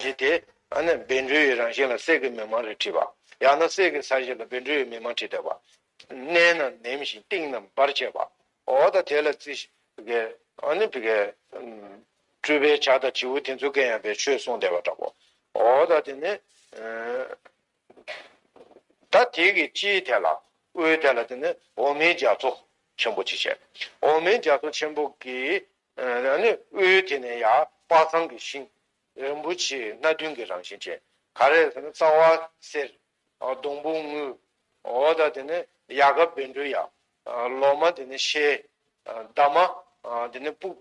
རེད་དེ། ཨ་ནི་བེ་འབྲུ་ཡི་རང་བཞིན་ལ་གསེར་གྱི་མི་མང་རེ་བྲིས་པ། ཡང་ན་གསེར་གྱི་ས་གཞི་ལ་བེ་འབྲུ་ཡི་མི་མང་བྲིས་བསྡད་པ། སྣའི་ནང་ནེམ་ཞིང་གཏིང་རྣམས་འབར་བྱེད་པ། འོ་ད་དེ་ལ་རྩི། ཨ་ནི། སྤྲུལ་པའི་བྱ་དང་བྱིའུ་དེ་ཚོ་སྐད་ཡངས་པའི་ཆོས་གསུངས་བསྡད་པ་འདྲ་བོ། འོ་ད་དེ་ནི། ད་དེ་གི་སྤྱིའི་ཐད་ལ་དབུའི་ཐད་ལ་དེ་ནི་འོག་མིན་རྒྱ་མཚོ་ཆེན་པོ་ཅེས་བྱ། འོག་མིན་རྒྱ་མཚོ་ཆེན་པོ་གི་དབུའི་དེ་ནི་ཡང་དཔག་ཚང་གི་ཤིང། རིན་པོ་ཆེ་སྣ་བདུན་གྱི་རང་བཞིན་ཅན། ག་རེ་ཟེར་ན་རྩ་བ་གསེར། སྡོང་བུ་དངུལ། འོག་དང་དེ་ནི་ཡལ་ག་བེར་འབྲུ་ཡལ། ལོག་མ་དེ་ནི་ཤེལ། འདབ་མ་དེ་ནི་སྤུག།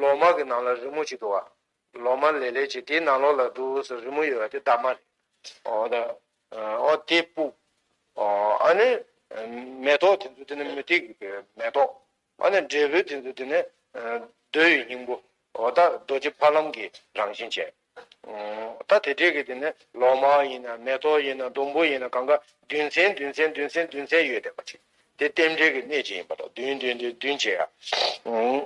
ལོག་མ་གི་ནང་ལ་རི་མོ་གཅིག་འདུག་བ། ལོ་མ་ལེ་ལེ་བྱེད་དེའི་ནང་ལོགས་ལ་འབྲུག་ཨུ་སུ་རི་མོ་ཡོད་པ་དེ་རྟ་མ་རེད། འོ་ད། འོ་དེ་སྤུག། འོ་ཨ་ནི། མེ་ཏོག་དེ་ཚོ་དེ་ནི་མུ་ཏིག་གི་བེ་མེ་ཏོག། ཨ་ནི་འབྲས་བུ་དེ་ཚོ་དེ་ནི། རྡོ་ཡི་སྙིང་པོ། འོ་ད་རྡོ་རྗེ་ཕ་ལམ་གྱི་རང་བཞིན་ཅན། ད་དེ་འདྲས་ཀྱི་དེ་ནི་ལོ་མ་ཡིན་ན་མེ་ཏོག་ཡིན་ན་སྡོང་པོ་ཡིན་ན་གང་ག་བདུན་ཚན་བདུན་ཚན་བདུན་ཚན་བདུན་ཚན་ཡོད་བསྡད་པ་ཅིག་དེ་རྟེན་འབྲེལ་གྱི་གནད་ཅིག་ཡིན་པ་དང་བདུན་བདུན་བདུན་བདུན་བྱས་ཡ།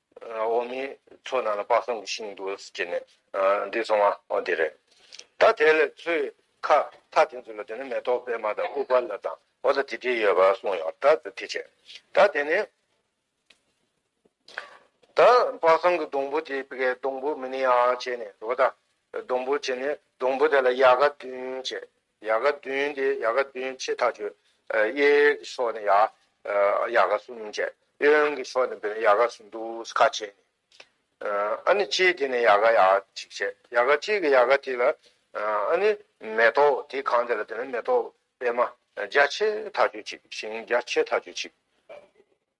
འོག་མིན་མཚོ་ནང་ལ་དཔག་བསམ་གྱི་ཤིང་འདུག་ཅེས་ནས་འདི་སོང་ང་འོ་དེ་རེད། ད་དེ་ལས་ཚོས་ཁ་ཐག་དེ་ཚོ་ལ་དེ་ནས་མེ་ཏོག་པད་མ་དང་ཨུཏྤ་ལ་དང་འོ་ད་དེ་དེ་ཡོད་པ་གསུངས་ཡོང་ད་དེ་བྱས། ད་དེ་ནས་ད་དཔག་བསམ་གྱི་སྡོང་བུ་དེ་གའི་སྡོང་བུ་མིན་ཡང་བྱས་ནས་འོ་ད་སྡོང་བུ་བྱས་ནས་སྡོང་བུ་དེ་ལ་ཡལ་ག་བདུན་བྱས། ཡལ་ག་བདུན་ཏེ་ཡལ་ག་བདུན་ཕྱེད་ཐག་ཆོད། གཡས་ཀྱི་ཕྱོགས་ནི་ཡལ་ག་གསུམ་བཅད། གཡོན་གྱི་ཕྱོགས་ནི་ཡལ་ག་གསུམ་དུ་ཁ་བྱེ། ཨཱ་ནི་སྤྱིའི་དེ་ནི་ཡལ་ག་ཡང་གཅིག་བྱེད། ཡལ་ག་གཅིག་གི་ཡལ་ག་དེ་ལ་ཨཱ་ནི་མེ་ཏོག་དེ་གང་དེ་ལ་དེ་ནི་མེ་ཏོག་པད་མ་རྒྱ་ཆེ་ཐག་ཆོད་གཅིག་ཤིང་རྒྱ་ཆེ་ཐག་ཆོད་གཅིག།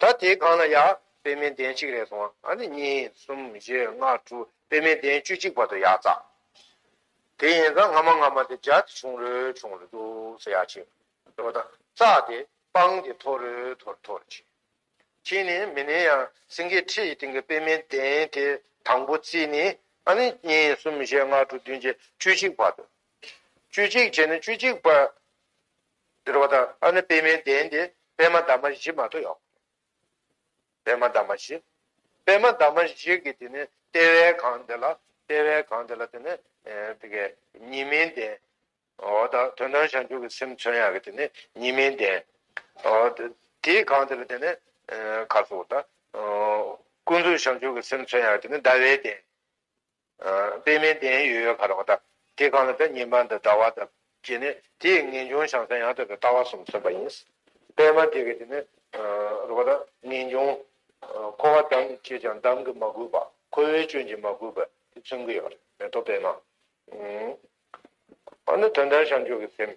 ད་དེའི་སྒང་ལ་ཡ། པད་མའི་གདན་གཅིག་རེ་སོང་ཨ་ནི་གཉིས་གསུམ་བཞི་ལྔ་དྲུག་པད་མའི་གདན་བཅུ་གཅིག་བར་དུ་ཡ་བཙའ། དེ་ཡིན་ཙང་སྔ་མ་སྔ་མ་དེ་འཇའ་དེ་ཆུང་རུལ་ཆུང་རུལ་འདུག་ས་ཡ་བྱས། འགྲོ་དང་བཙའ་དེ་སྤང་དེ་མཐོ་རུལ་མཐོ་རུལ་མཐོ་རུལ་བྱས། ཁྱེད་ནི་མི་ནི་ཡང་སེང་གེའི་ཁྲི་ཡི་སྟེང་གི་པད་མའི་གདན་དེ་དང་པོ་བརྩིས་ནི་ཨ་ནི་གཉིས་གསུམ་བཞི་ལྔ་དྲུག་བདུན་བརྒྱད་བཅུ་གཅིག་བར་དུ། བཅུ་གཅིག་བྱས་ནི་བཅུ་གཅིག་བར། འདིར་བ་དང་ཨ་ནི་པདྨའི་གདན་ཏེ་པདྨ་འདབ་མ་བཞི་མ་ཐོ་ཡོག། པདྨ་འདབ་མ་བཞི། པདྨ་འདབ་མ་བཞི་གི་དེ་ནི་ལྟེ་བའི་གང་དེ་ལ་ལྟེ་བའི་གང་དེ་ལ་དེ་ནི་དེ་གའི་ཉི་མའི་གདན། འོ་ད་དོན་དམ་བྱང་ཆུབ་ཀྱི་སེམས་མཚོན་ཡ་གི་དེ་ནི་ཉི་མའི་གདན། འོ་དེའི་གང་དེ་ལ་དེ་ནི་ཁ་སོ་ད། ཀུན་རྫོབ་བྱང་ཆུབ་ཀྱི་སེམས་མཚོན་ཡ་གི་དེ་ནི་ཟླ་བའི་གདན། དཔེ་མེད་བདེན་ཡོད་ཡོད་གར་བ་དག་དེ་གང་ལ་ད་ཉིན་པ་འདི་འདྲ་བ་དང་བཅས་ནས་དེའི་ངེས་འབྱུང་བྱང་སེམས་ཡང་དག་པའི་ལྟ་བ་གསུམ་མཚོན་པ་ཡིན། དཔེ་མ་དེ་གི་དེ་ནི་རུ་བ་དང་ངེས་འབྱུང། འཁོར་བ་འདམ་གྱིས་བྱས་ཀྱང་འདམ་གྱིས་མ་གོས་པ་ཁོ་བོའི་སྐྱོན་གྱིས་མ་གོས་པ་དེ་མཚོན་གྱི་ཡོད་རེད་དོ་དཔེ་མ། འོ་ན་དོན་དམ་བྱང་ཆུབ་ཀྱི་སེམས་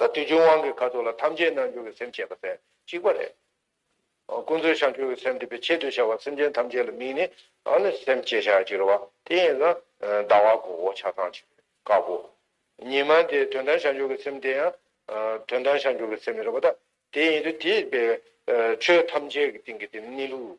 ད་དུས་ཀྱི་དབང་གིས་ཁ་ཐུག་ལ་ཐམས་ཅད་སྣང་འགྱུར་གྱི་སེམས་བྱེད་པ་ཚེ་གཅིག་པ་རེད། ཀུན་རྫོབ་བྱང་ཆུབ་ཀྱི་སེམས་འདི་པའི་ཆེད་དུ་བྱ་བ་སེམས་ཅན་ཐམས་ཅད་ལ་དམིགས་ནས་ཨ་ནི་སེམས་བསྐྱེད་བྱ་ཅི་རེད་བ་དེ་ཡིན་ན་ཟླ་བ་གོ་བོ་ཆ་ཚང་བྱེད་དཀའ་བོ། ཉི་མ་དེ་དོན་དམ་བྱང་ཆུབ་ཀྱི་སེམས་དེ་ཡང་དོན་དམ་བྱང་ཆུབ་ཀྱི་སེམས་རེད་བ་ད་དེ་ཡིན་དུས་དེས་པའི་ཆོས་ཐམས་ཅད་ཀྱི་སྟེང་གི་དེ་ནི་ལུགས་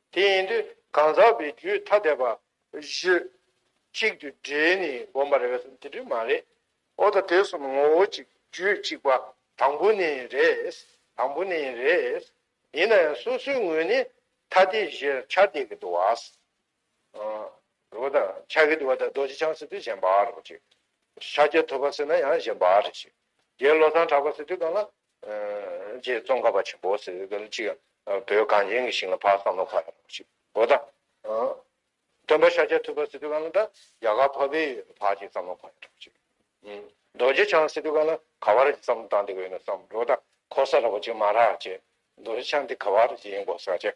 དེ་ཡིན་དུས་གང་ཟག་པའི་རྒྱུད་ཐ་དད་པ། བཞི། གཅིག་ཏུ་འདྲེས་ནས་བསྒོམ་པར་འོས་སམ་དེ་འདྲ་མ་རེད། ཨོ་ད་དེ་གསུམ་ངོ་བོ་གཅིག་རྒྱུད་གཅིག་པ་དང་པོ་ནི་རེད། དང་པོ་ནི་རེད། ཡིན་ན་ཡང་སོ་སོའི་ངོས་ནས་ཐ་དད་བཞིར་ཆ་བལྟས་ཀྱི་འདུག་བ། རོ་དང། ཆགས་ཀྱི་འདུག་བ་དང་རྡོ་རྗེ་འཆང་ཟེར་དུས་གཞན་པར་རོ་གཅིག། ཤཱཀྱ་ཐུབ་པ་ཟེར་ན་ཡང་གཞན་པར་རེ་ཞིག། རྒྱའི་བློ་བཟང་གྲགས་པ་ཟེར་དུས་གང་ལ། ཅེས་ཙོང་ཁ་པ་ཆེན་པོ་ཟེར་བའི་གཅིག་ཡང་བོད་གངས་ཅན་གྱི་ཞིང་ལ་ཕག་བསམ་བློ་ཁ་ཡོད་ཅིག་གོ་ད། སྟོན་པ་ཤཱཀྱ་ཐུབ་པ་སི་ཏུ་ཀཱ་ལ་ད་རྒྱ་གར་ཕ་བེ་ཡོད་ཕག་ཅིག་བསམ་བློ་ཁ་ཡོད་ཅིག། རྡོ་རྗེ་འཆང་སི་ཏུ་ཀཱ་ལ་ག་བ་ར་ཅིག་བསམ་བློ་བཏང་འདི་གོ་ཡོད་ན་བསམ་གོ་ད་ཁོ་ས་ར་བ་ཅིག་མ་ར་ཅེས་རྡོ་རྗེ་འཆང་འདི་ག་བ་ར་ཅིག་ཡིན་གོ་ས་ཅེས།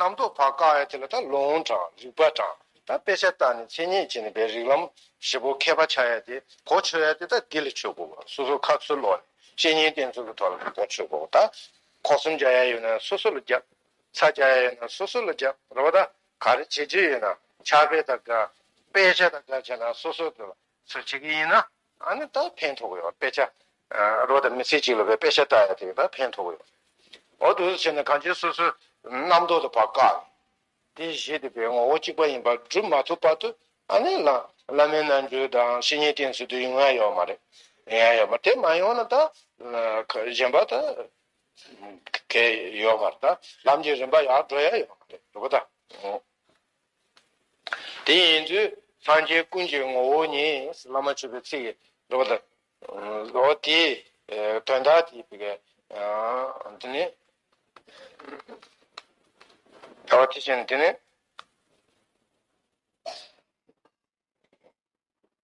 རྣམ་རྟོག་བག་བཀག་ཡང་དེ་ལ་ད་ལོང་དྲང་རིག་པ་དྲང་ད་དཔེ་ཆ་ལྟ་ནས་མཚན་ཉིད་ཅན་པའི་རིག་ལམ་བཞི་པོ་མཁས་པ་ཆགས་ཡ་དེ་གོ་ཆོད་ཡ་དེ་ད་འདི་ལ་ཆོས་གོ་བ་སོ་སོ་ཁ་ཚུར་ལོག་ནས་བཤེས་གཉེན་བསྟེན་ཚུལ་གྱི་ཐོག་ལ་འདི་ལྟར་ཆོས་གོ་ད་གོ་གསུམ་རྒྱག་ཡ་ཡོད་ན་སོ་སོ་ལ་རྒྱག་ཚ་རྒྱག་ཡ་ཡོད་ན་སོ་སོ་ལ་རྒྱག་རོགས་པ་ད་ག་རེ་བྱེད་རྒྱུ་ཡོད་ན་ཕྱག་དཔེ་ད་དགའ་དཔེ་ཆ་ད་དགའ་བྱས་ན་སོ་སོ་དེ་ལ་ཚུར་བྱེད་ཀྱི་ཡིན་ན། ཨ་ནི་ད་ཕན་ཐོགས་ཡོད་དཔེ་ཆ། རོ་དང་མི་ཚེ་གཅིག་ལ་བའི་དཔེ་ཆ་ལྟ་ཡ་དེ་ད་ཕན་ཐོགས་ཡོད། འོ་དོ་ཟེར་ནས་གངས་ཅན་སོ་སོའི་རྣམ་རྟོག་དུ་བར་བཀག་ནས། དེ་གཞི་དེ་པའི་ངོ་བོ་གཅིག་པ་ཡིན་པ་སྒྲུབ་མ་ཐུབ་བར་དུ་ཨ་ནི་ལ་བླ་མའི་རྣལ་འབྱོར་དང་བཤེས་གཉེན་བསྟེན་ཚུལ་དུ་ཡོང་ཡ་ཡོད་མ་རེད། ཡོང་ཡ་ཡོད་མ་དེ་མ་ཡོང་ན་ད་གཞན་པ་ད་གས་ཡོད་མ་རེད་ད་ལམ་གྱི་རིམ་པ་ཡར་འགྲོ་ཡ་ཡོད་མ་རེད་འགྲོ་གི་ད། དེ་ཡིན་དུས་སངས་རྒྱས་ཀུན་གྱི་ངོ་བོ་ཉིད། བླ་མ་བཅུ་པའི་ཚིག་གིས་སྒྲོ། འོ་དེའི་དོན་དག་དེ་དེ་སྐད། འདི་ནི། ད་བར་དེ་བཞིན་འདི་ནི།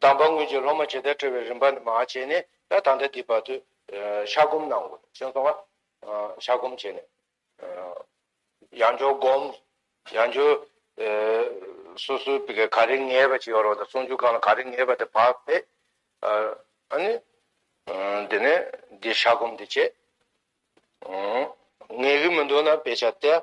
གདམས་པ་དངོས་ཀྱི་སློབ་མ་ཇི་ལྟར་བཀྲི་བའི་རིམ་པ་ནི་མ་བྱས་ནས་ད་ལྟ་འདི་བར་དུ་ཤ་སྒོམ་གནང་ངོ། ཤ་སྒོམ་བྱས་ནས། ཡང་སྦྱོར་སྒོམ། ཡང་སྦྱོར། སོ་སོའི་བི་གའི་ག་རེ་ངེས་པ་ཅིག་ཡོད་རོགས་དང་ཟུང་འཇུག་གང་ལ་ག་རེ་ངེས་པ་དེ་བག་ཕེབས། ཨཱ་ནི། དེ་ནས་འདི་ཤ་སྒོམ་འདི་བྱས། ངེས་ཀྱི་མི་འདུག་ན་དཔེ་ཆ་སྟེ།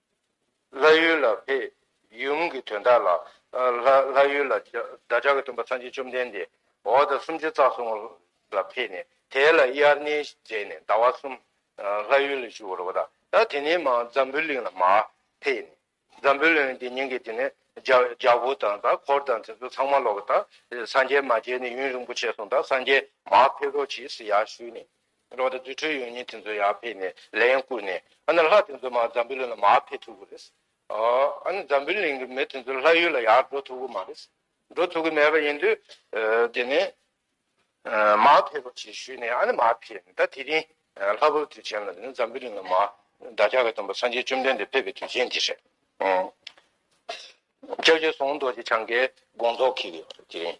ལྷ་ཡུལ་ལ་ཕེབས། ཡུམ་གྱི་དོན་དག་ལ། ལྷ་ཡུལ་ལ་བདག་ཅག་གི་སྟོན་པ་ཚངས་སྤྱོད་བཅོམ་ལྡན་འདས་འོག་དང་སུམ་ཅུ་རྩ་གསུམ་ལ་ཕེབས་ནས་དེ་ལ་དབྱར་གནས་མཛད་ནས་ཟླ་བ་གསུམ་ལྷ་ཡུལ་ལ་བཞུགས་རོགས་གདའ། དེ་ནས་མ་འཛམ་བུའི་གླིང་ལ་མ་ཕེབས་ནས་འཛམ་བུའི་གླིང་འདི་ཉིད་ཀྱི་དེ་ནས་རྒྱལ་པོ་དང་དང་འཁོར་དང་དེ་ཚོ་ཚང་མ་ལོག་གདའ། སངས་རྒྱས་མ་མཇལ་ནས་ཡུན་རིང་པོ་བྱས་སོང་གདའ་སངས་རྒྱས་མ་ཕེབས་རོགས་གྱིས་ཡར་ཞུས་ནས། འགྲོ་འདི་རྫུ་འཕྲུལ་ཡོད་ཉིན་དེ་ཚོ་ཡར་ཕེབས་ནས་ལས་ཡང་བསྐུར་ནས་ཨ་ན་ལྷ་དེ་ཚོ་མ་ཛམ་བུའི་གླིང་ལ་མ་ཕེབས་ཐུབ་གི་རེད། ཨ་ན་ཛམ་བུའི་གླིང་གི་མི་དེ་ཚོ་ལྷ་ཡུལ་ལ་ཡར་འགྲོ་ཐུབ་གི་མ་རེད། འགྲོ་ཐུབ་གི་མེད་པ་ཡིན་དུས་དེ་ནས་མ་ཕེབས་རོགས་ཞེས་ཞུས་ནས་ཨ་ན་མ་ཕེབས་ནས་ད་དེ་རིང་ལྷ་བབས་དུས་ཆེན་ལ་དེ་ནི་ཛམ་བུའི་གླིང་ལ་མ་བདག་ཅག་གི་སྟོན་པ་སངས་རྒྱས་བཅོམ་ལྡན་འདས་ཕེབས་པའི་དུས་ཆེན་དེ་རེད། ལྕགས་ཀྱུ་ཟོང་རྡོ་རྗེ་འཆང་གི་དགོངས་རྫོགས་གིས་དེ་རིང།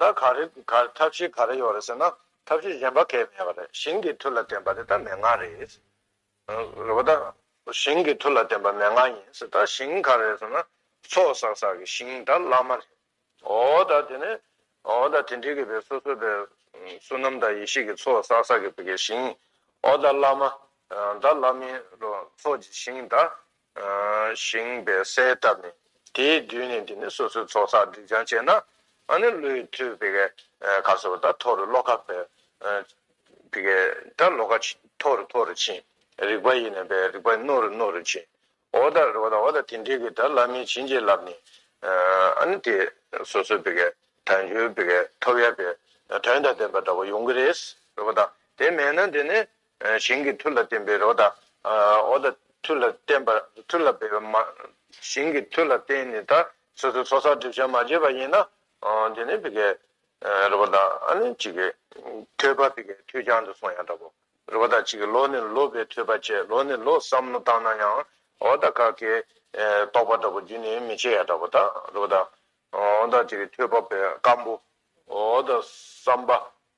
ད་ག་རེ་ཐབས་ཤེས་ག་རེ་ཡོད་རེད་ཟེར་ན་ཐབས་ཤེས་གཞན་པ་གས་མེད་པ་རེད་ཞིང་གི་མཐུ་ལ་བརྟེན་པ་དེ་ད་མན་ངག་རེད། རེད་པ་ད། ཞིང་གི་མཐུ་ལ་བརྟེན་པ་མན་ངག་ཡིན་ཟེར་ད་ཞིང་ག་རེ་རེད་ཟེར་ན་ཚོགས་བསགས་བསགས་ཀྱི་ཞིང་ད་བླ་མ་རེད། ཨོ་ད་དེ་ནས་ཨོ་ད་དེ་འདྲི་གི་བས་སོ་སོ་པའི་བསོད་ནམས་དང་ཡེ་ཤེས་ཀྱི་ཚོགས་བསགས་བསགས་ཀྱི་བས་ཀྱི་ཞིང་ཨོ་ད་བླ་མ། ད་བླ་མའི་ཚོགས་ཀྱི་ཞིང་ད་བཞེངས་པའི་གསལ་བཏབ་ནས་དེའི་མདུན་ནས་འདི་ནི་སོ་སོའི་ཚོགས་བསགས་སྒྲིབ་སྦྱང་བྱས་ན་ཨ་ནི་ཀླུའི་མཐུས་བི་གའི་གར་སོགས་པ་དག་མཐོ་རུ་ཤློ་ཀ་བི་གའི་དག་ཤློ་ཀ་མཐོ་རུ་མཐོ་རུ་ཕྱིན། རིག་པ་ཡེ་ནས་པའི་རིག་པ་རྣོ་རུ་རྣོ་རུ་ཕྱིན། ཨོ་ད་རི་བ་དང་ཨོ་ད་དེ་འདྲིལ་གྱི་དག་བླ་མའི་བྱིན་གྱིས་བརླབས་ནས་ཨ་ནི་དེ་སོ་སོའི་བི་གའི་དག་མཆོད་བི་གའི་ཐོབ་ཡལ་བའི་དོན་དང་ལྡན་པ་འདྲ་བ་ཡོང་གི་རེད། རི་བ་དང་དེ་མེད་ན་འདི་ནི་ཞིང་གི་མཐུ་ལ་བརྟེན་པའི་རོ་དང། འོ་དང། མཐུ་ལ་བརྟེན་པ། མཐུ་ལ་འབད་པའི་མ། ཞིང་གི་མཐུ་ལ་བརྟེན་ནས་ད། སོ་སོའི་ཚོགས་བསགས་སྒྲིབ་བྱ་མ་བཅད་པ་ཡིན་ན། དེ་ནི་བི་ཀའི། རོ་དང། ཨ་ནི་གཅིག་གི། ཐོས་པ་བི་ཀའི་མཐུས་བྱང་དུ་སོང་ཡང་འདྲ་བོ། རོ་དང་གཅིག་གི་ལོ་ནི་ལོ་བའི་ཐོས་པ་བཅད་ལོ་ནི་ལོ་བསམ་མནོ་བཏང་ན་ཡང། འོ་དང་ཀྵ་ཀྵའི། རྟོག་པ་འདྲ་བོ་རྒྱུ་ནི་མི་བྱེད་ཡང་འདྲ་བོ་དང་རོ་དང། འོ་དང་གཅིག་གི་ཐོས་པ་བི་ཀའམ་བུ། འོ་དང་བསམ་པ།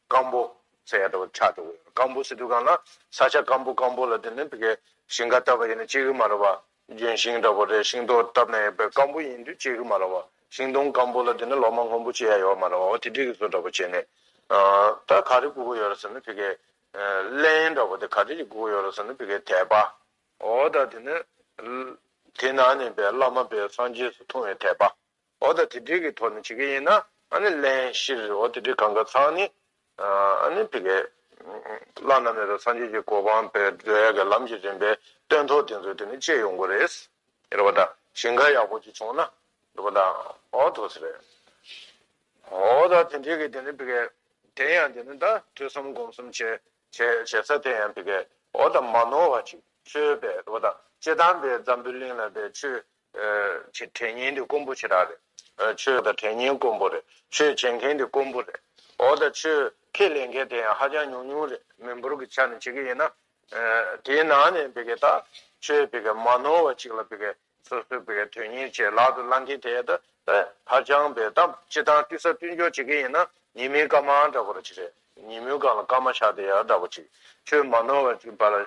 སྐམ་པོ། ས་ཡ་དྲུག་པ་ཁྲག་དྲུག་པ་ཡོད་པ་སྐམ་པོ་སི་ཏུ་གང་ན་ས་ཆ་སྐམ་པོ་སྐམ་པོ་ལ་དེ་ནི་དེ་གའི་ཞིང་ཁ་བཏབ་པ་ཡིན་ན་གཅིག་གི་མ་རེད་པ། ལྗོན་ཤིང་འདྲ་པོ་རེད་ཤིང་ཏོག་བཏབ་ན་ཡོད་པའི་སྐམ་པོ་ཡིན་དུས་གཅིག་གི་མ་རེད་པ། ཤིང་སྡོང་སྐམ་པོ་ལ་དེ་ནི་ལོ་མ་སྔོན་པོ་བྱེད་ཡ་ཡོད་པ་མ་རེད་པ་འོ་དེ་དྲིས་ཀྱི་བཟོ་འདྲ་པོ་བྱེད་ནས། ད་ག་རེ་དགུ་པོ་ཡོད་རེད་ཟེར་ན་དེ་གའི། གླན་འདྲ་པོ་དེ་ག་རེ་གཅིག་དགུ་པོ་ཡོད་རེད་ཟེར་ན་དེ་གའི་དད་པ། འོ་ད་དེ་ནི། དེ་ན་ནས་པའི་བླ་མ་པའི་སངས་རྒྱས་སུ་མཐོང་བའི་དད་པ། འོ་ད་དེ་འདྲི་གི་ཐོག་ནས་བྱེད་ཀྱི་ཡིན་ན་ཨ་ནི་ལན་བཞིར་འོ་དེ་འདྲི་གང་ག་ཚང་ནི་ཨ་ནི་ཕི་གེ། བླ་ན་མེད་པའི་སངས་རྒྱས་ཀྱི་གོ་འཕང་བས་འབྲོས་ཡ་གི་ལམ་གྱི་རིམ་པའི་སྟོན་ཐོག་དེ་ཚོ་དེ་ནི་བཅད་ཡོང་གི་རེད། རེད་པ་ད་ཞིང་ཁ་ཡག་པོ་གཅིག་བྱུང་ན་འགྲོ་པ་ད་འོ་ཐུགས་ཟེར་རེད། འོ་ད་དེ་འདྲི་གི་དེ་ནི་ཕི་གེ། དེ་ཡང་དེ་ནི་ད་ཐོས་བསམ་སྒོམ་གསུམ་བྱེད་བྱེད་ས་དེ་ཡང་ཕི་གེ་འོ་ད་མ་ནོར་བ་ཅིག་ཆོས་པས་རེད་པ་ད་ཅེ་དང་པའི་འཛམ་བུའི་གླིང་ལ་པའི་ཆོས་དྲན་ཉན་དེ་དཀོན་པོ་ཆེ་རག་རེད། ཆོས་དང་དྲན་ཉན་དཀོན་པོ་རེད། ཆོས་བྱེད་མཁན་དེ་དཀོན་པོ་རེད། འོ་ད་ཆོས་ཁས་ལེན་མཁན་དེ་ཡང་ཧ་ཅང་ཉུང་ཉུང་རེད། མི་འབོར་གྱི་ཆ་ནས་བྱེད་ཀྱི་ཡིན་ན། དེའི་ནང་ནས་བི་ཀའི་ད་ཆོས་བི་ཀའི་མ་ནོར་བ་ཅིག་ལ་བི་ཀའི་སོ་སོའི་བི་ཀའི་དོན་གཉེར་བྱེད་ལག་ཏུ་བླང་མཁན་དེ་ད་ཧ་ཅང་བི་ད་སྤྱི་དང་བསྟུན་ས་བསྟུན་འཇོག་བྱེད་ཀྱི་ཡིན་ན་ཉིན་མིན་སྐར་མ་འདྲ་པོ་རེད། ཉིན་མོའི་སྒང་ལ་སྐར་མ་ཆགས་དེ་ཡང་འདྲ་པོ་ཅིག་ཆོས་མ་ནོར་བ་ཅིག་བ་ལ་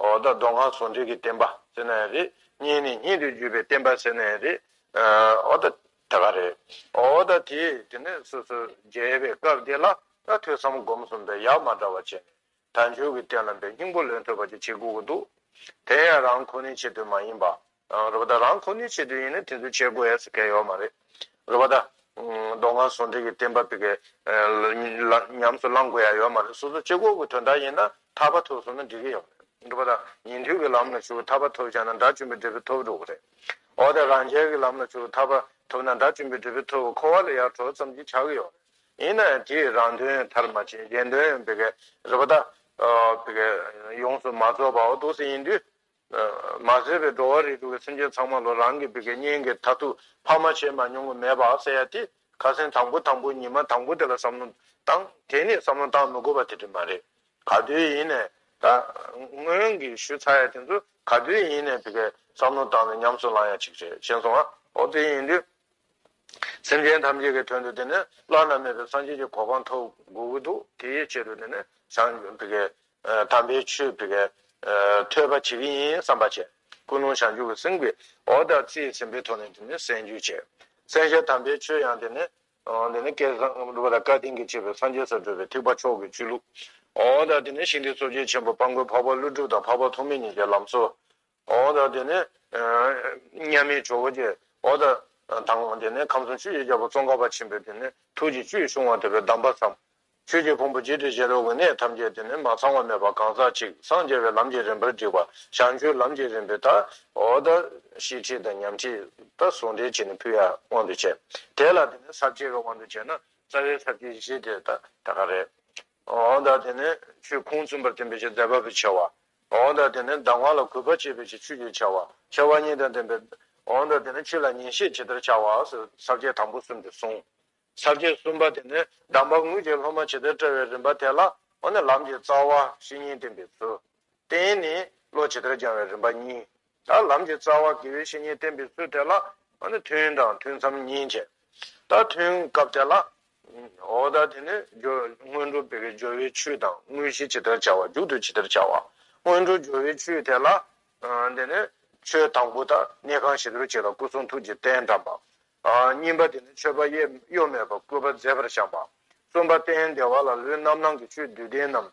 འོ་ད་སྡོང་གང་ཟོ་འདྲེ་གི་བསྟན་པ་ཟེར་ན་ཡང་རེད་གཉིས་ནི་གཉིད་དུ་རྒྱུ་བའི་བསྟན་པ་ཟེར་ན་ཡང་རེད་འོ་ད་ད་ག་རེད་འོ་ད་དེ་དེ་ནས་སོ་སོ་རྒྱལ་བའི་སྐབས་དེ་ལ་ད་ཐོས་བསམ་སྒོམ་གསུམ་དང་ཡ་མ་འདྲ་བ་བྱས་ནས་དལ་འབྱོར་གྱི་བསྟན་ལམ་པའི་སྙིང་པོ་ལོན་ཐུབ་པ་ཅིག་བྱེད་དགོས་ཀྱི་འདུག་དེ་ཡང་རང་ཁོ་ནའི་ཆེད་དུ་མ་ཡིན་པ་རོ་བ་ད་རང་ཁོ་ནའི་ཆེད་དུ་ཡིན་ན་དེ་ཚོ་བྱེད་དགོས་ཡས་སུ་གལ་ཡོད་མ་རེད། རོ་བ་ད། མདོ་སྔགས་ཟུང་འབྲེལ་གྱི་བསྟན་པ་བི་གའི། ཉམས་སུ་བླང་དགོས་ཡ་ཡོད་མ་རེད་སོ་སོ་སྤྱི་ཁོག་གི་དོན་དག་ཡིན་ན་ཐར་པ་ཐོབ་སོང་ན་འགྲིག་གི་ཡོད་མ་རེད། རོ་བ་ད། ཉན་ཐོས་ཀྱི་ལམ་ལ་ཞུགས་ཐར་པ་ཐོབ་ཆ་ན་དགྲ་བཅོམ་པའི་འབྲས་བུ་ཐོབ་འགྲོ་གི་རེད། འོ་ད་རང་རྒྱལ་གྱི་ལམ་ལ་ཞུགས་ཐར་པ་ཐོབ་ན་དགྲ་བཅོམ་པའི་འབྲས་བུ་ཐོབ་ཁོ་བ་ལ་ཡར་གྲོ་ཙམ་གྱིས་ཆགས་གི་ཡོད་རེད། ཡིན་ན་ཡང་དེས་རང་དོན་མཐར་མ་ཕྱིན་གཞན་དོན་བི་གའི། རོ་བ་ད། བི་གའི། ཡོངས་སུ་མ་རྫོགས་པའོ་ཏོག་སེ་ཡིན་དུས། མ་བཟོད་པའི་འགྲོ་བ་རིགས་དྲུག་གི་སེམས་ཅན་ཚང་མ་ལོ་རང་གི་བུ་གའི་གཉེན་གྱི་མཐར་ཐུག་ཕ་མ་བྱེད་མ་མྱོང་གི་མེད་པའང་གསལ་ཡག་སྟེ། ཁ་སེང་དང་པོ་དང་པོ་ཉི་མ་དང་པོ་དེ་ལ་བསམ་བློ་བཏང་དེ་ནས་བསམ་བློ་བཏང་མི་དགོས་པ་དེ་དྲི་མ་རེད། ག་དུས་ཡིན་ནས། ད་སྔོན་གྱི་ཞུ་ཚ་ཡ་དེ་ཚོ་ག་དུས་ཡིན་ནས་བུ་གའི་བསམ་བློ་བཏང་ནས་ཉམས་སུ་བླང་ཡ་ཅིག་རེད་ཤེས་སོང་ཨ། ཨོ་དེ་ཡིན་དུས། སེམས་ཅན་ཐམས་ཅད་ཀྱི་དོན་དུ་དེ་ནས་བླ་ན་མེད་པའི་སངས་རྒྱས་ཀྱི་གོ་འཕང་ཐོབ་དགོས་ཀྱི་འདུག་དེའི་ཆེད་དུ་དེ་ནས་བྱང་བུ་གའི་དམ་པའི་ཆོས་དེ་ཀའི་ཐོས་པ་བྱེད་ཀྱི་ཡིན་བསམ་པ་བྱས། ཀུན་སློང་བྱང་ཆུབ་ཀྱི་སེམས་ཀྱིས་འོག་དང་རྩིས་ཟིན་པའི་ཐོག་ནས་དེ་ནི་གསན་རྒྱུ་བྱས། གསན་བྱས་དམ་པའི་ཆོས་ཡང་དེ་ནི། དེ་ནི་བསྐལ་བཟང་གི་བུ་དང་བཀའ་དྲིན་གྱིས་ཆེ་བའི་སངས་རྒྱས་སུ་བགྲོད་པའི་ཐེག་པ་མཆོག་གི་ཆོས་ལུགས། འོག་དང་དེ་ནི་ཞིང་སྡེའི་གཙོ་བྱས་ཆེན་པོ་དཔའ་མགོན་འཕགས་པ་ཀླུ་སྒྲུབ་དང་འཕགས་པ་ཐོགས་མེད་གཉིས་ཀྱི་ལམ་སྲོལ། འོ་དང་དེ་ནས་མཉམ་མེད་ཇོ་བོ་རྗེ་འོ་དང་དང་དེ་ནས་ཁམས་གསུམ་ཆོས་རྗེ་རྒྱལ་པོ་ཙོང་ཁ་པ་ཆེན་པོས་དེ་ནས་ཐུགས་ཀྱི་བཅུད་ཕྱུང་བ་དེ་བས་བསྡམས་པར་བསམ། ཆོས་ཀྱི་ཕུང་པོ་བརྗིད་དུ་བཞེས་རོགས་ཀྱི་གནས་ཐམས་ཅད་དེ་ནས་མ་ཚང་བ་མེད་པར་གང་ཟག་གཅིག་སངས་རྒྱས་པའི་ལམ་གྱི་རིམ་པར་བསྒྲིགས་པ་བྱང་ཆུབ་ལམ་གྱི་རིམ་པའི་ཐ་འོ་དང་ཤེས་ཁྲིད་དང་ཉམས་ཁྲིད་དང་ཟུང་འབྲེལ་བྱས་ནས་ཕུལ་ཡ་དབང་དུ་བྱས། དེ་ལ་དེ་ནས་ཟབ་ཁྱད་ཀྱི་དབང་དུ་བྱས་ན་རྩ་བའི་ཟབ་ཁྱད་བཞི་དེ་དག་རེད། འོན་ཏང་དེ་ནི་ཆུའི་ཁུངས་བཙུན་པར་བསྟན་པའི་ཆུ་ཟླའི་བབས་པས་ཕྱེ་བ། འོན་ཏང་དེ་ནི་ཟླ་ངོགས་ལ་གུས་པར་བཅས་པའི་ཆུ་ཆུ་ཡིས་ཕྱེ་བ། ཕྱེ་བ་གཉིས་དང་ལྡན་པའི། འོན་ཏང་དེ་ནི་ཆུ་ལ་ཉིན་ཤས་ཇི་ལྟར་བྱ་བ། ཟབ་རྒྱས་དང་པོ་གསུམ་དུ་གསུངས། ཟབ་རྒྱས་གསུམ་པ་དེ་ནི་གདམས་པ་དངུལ་གྱི་སློབ་མ་ཇི་ལྟར་བཀྲལ་བའི་རིམ་པ་དེ་ལ། འོ་ན་ལམ་གྱི་རྩ་བ་བཤེས་གཉེན་བསྟེན་པའི་ཚུལ། རྟེན་ནི་བློ་ཇི་ལྟར་སྦྱང་བའི་རིམ་པ་གཉིས། ད་ལམ་གྱི་རྩ་བ་དགེ་བའི་བཤེས་གཉེན་བསྟེན་པའི་ཚུལ་དེ་ལ་ཐུན་དང་ཐུན་མཚམས་གཉིས་བྱས། ད་ཐུན་སྐབས་དེ་ལ། འོ་ད་དེ་ནས་སྔོན་འགྲོ་སྤེལ་བའི་སྦྱོར་བའི་ཆུ་དང་དངོས་གཞི་ཇི་ལྟར་བྱ་བ་རྒྱུག་ཏུ་ཇི་ལྟར་བྱ་བ། སྔོན་འགྲོ་སྦྱོར་བའི་ཆུ་དེ་ལ། དེ་ནས་ཆོས་དང་པོ་དང་གནས་ཁང་བྱི་དོར་བྱས་ལ་སྐུ་གསུང་ཐུགས་ཀྱི་རྟེན་དགྲམ་པ། གཉིས་པ་དེ་ནས་མཆོད་པ་གཡོ་མེད་པར་བསྐུལ་བ་མཛད་པར་བཤམས་པ། གསུམ་པ་སྟན་བདེ་བ་ལ་ལུས་རྣམ་སྣང་གི་ཆོས་བདུད་སྡེ་རྣམས་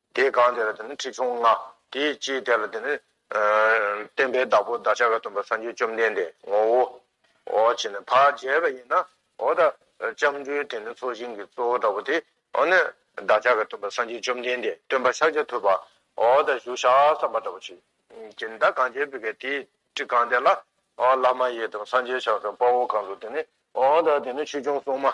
དེའི་གང་དེ་ལ་དེ་ནི་ཁྲི་ཆུང་ལྔ། དེའི་ཅིའི་དེ་ལ་དེ་ནི། བསྟན་པའི་བདག་པོ་བདག་ཅག་ག་སྟོན་པ་སངས་རྒྱས་བཅོམ་ལྡན་འདས་ངོ་བོ། འོ་བྱེད་ནི་བར་བྱས་པ་ཡིན་ན། འོ་ད་ལྕམ་སྤྲུལ་དེ་ནི་ཚོགས་ཞིང་གི་གཙོ་བོ་ལྟ་བུ་དེ། འོ་ནི། བདག་ཅག་ག་སྟོན་པ་སངས་རྒྱས་བཅོམ་ལྡན་འདས་སྟོན་པ་ཕྱག་རྒྱ་ཐུབ་པ། འོ་ད་བཞུགས་ཤག་བསམ་པ་ལྟ་བུ་བྱེད། ཀྱེ་མདའ་གང་བྱས་བུ་གའི་དེའི་ཁྲི་གང་དེ་ལ། བླ་མ་ཡི་དམ་སངས་རྒྱས་ཕྱག་སོན་དཔའ་བོ་གང་དུ་དེ་ནི། འོ་ད་དེ་ནི་ཁྲི་ཆུང་སྲུང་མ།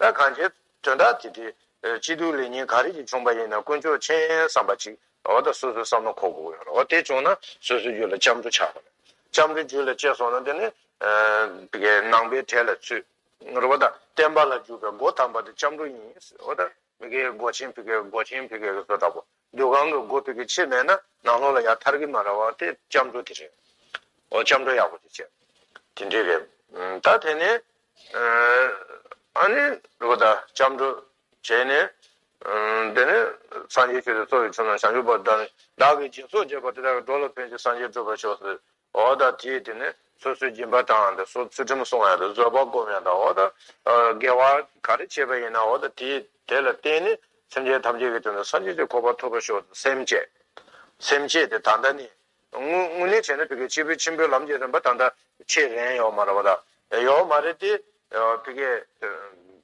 ལྟ་གང་བྱེད། དོན་དག་དེ་དེ། སྐྱིད་སྡུག་ལེགས་ཉེས་ག་རེ་ཞིག་བྱུང་བ་ཡིན་ན་དཀོན་མཆོག་མཁྱེན་བསམ་པ་ཅིག་འོ་ད་སོ་སོའི་བསམ་བློ་འཁོར་དགོས་ཡོད་རེད་འོ་དེ་བྱུང་ན་སོ་སོའི་རྒྱུད་ལ་སྐྱབས་འགྲོ་ཆགས་པ་རེད་སྐྱབས་འགྲོའི་རྒྱུད་ལ་སྐྱེས་སོང་ན་དེ་ནི། ནང་པའི་གྲས་ལ་ཚུད། རེད་འོ་ད་བསྟན་པ་ལ་འཇུག་པའི་སྒོ་དམ་པ་དེ་སྐྱབས་འགྲོ་ཡིན་འོ་ད། སྒོ་ཆེན་བཟོ་འདྲ་པོ། སྡོད་ཁང་གི་སྒོ་ཕིག་གི་ཕྱེད་མེད་ན་ནང་ལོགས་ལ་ཡར་ཐར་གི་མ་ར་བ་དེ་སྐྱབས་འགྲོ་དེ་རེད། འོ་སྐྱབས་འགྲོ་ཡག་པོ་དེ་བྱས། དེ་འདྲས་རེད། ད་དེ་ནས། ཨ་ནི། རེ་བ་ད་སྐྱབས་འགྲོ་བྱས་ནས། དེ་ནས་སངས་རྒྱས་ཆོས་དེ་གཙོ་བོས་ཆོས་རྣམས་བྱང་ཆུབ་པ་བདག་ནི་བདག་གི་སྦྱིན་སོགས་བརྒྱད་པ་དེ་དག་གི་འགྲོ་ལ་ཕན་ཅིང་སངས་རྒྱས་སྒྲུབ་པར་ཤོག་ཟེར། འོ་ད་དེས་དེ་ནས་སོ་སོའི་སྦྱིན་པ་དང་དེ་སོགས་ཚུལ་ཁྲིམས་སྲུང་བ་ཡང་དག་བཟོད་པ་བསྒོམ་ཡང་དག་འོ་ད་དགེ་བ་ག་རེ་བྱས་པ་ཡིན་ནའོ་ད་དེས་དེ་ལ་བརྟེན་ནས་སེམས་ཅན་ཐམས་ཅད་ཀྱི་དོན་དུ་སངས་རྒྱས་ཀྱི་འཁོར་བ་ཐོབ་པར་ཤོག་ཅེས་སེམས་བསྐྱེད། སེམས་བསྐྱེད་དེ་ད་ལྟ་ནས་དངོས་གནས་བྱས་ན་བི་ཀའི་སྐྱེས་བུ་ཆེན་པོའི་ལམ་གྱི་རིམ་པ་ད་ལྟ་ཆེས་རན་ཡོད་མ་རེད་པ་ད་ཡོད་མ་རེད་དེ། བི་ཀའི།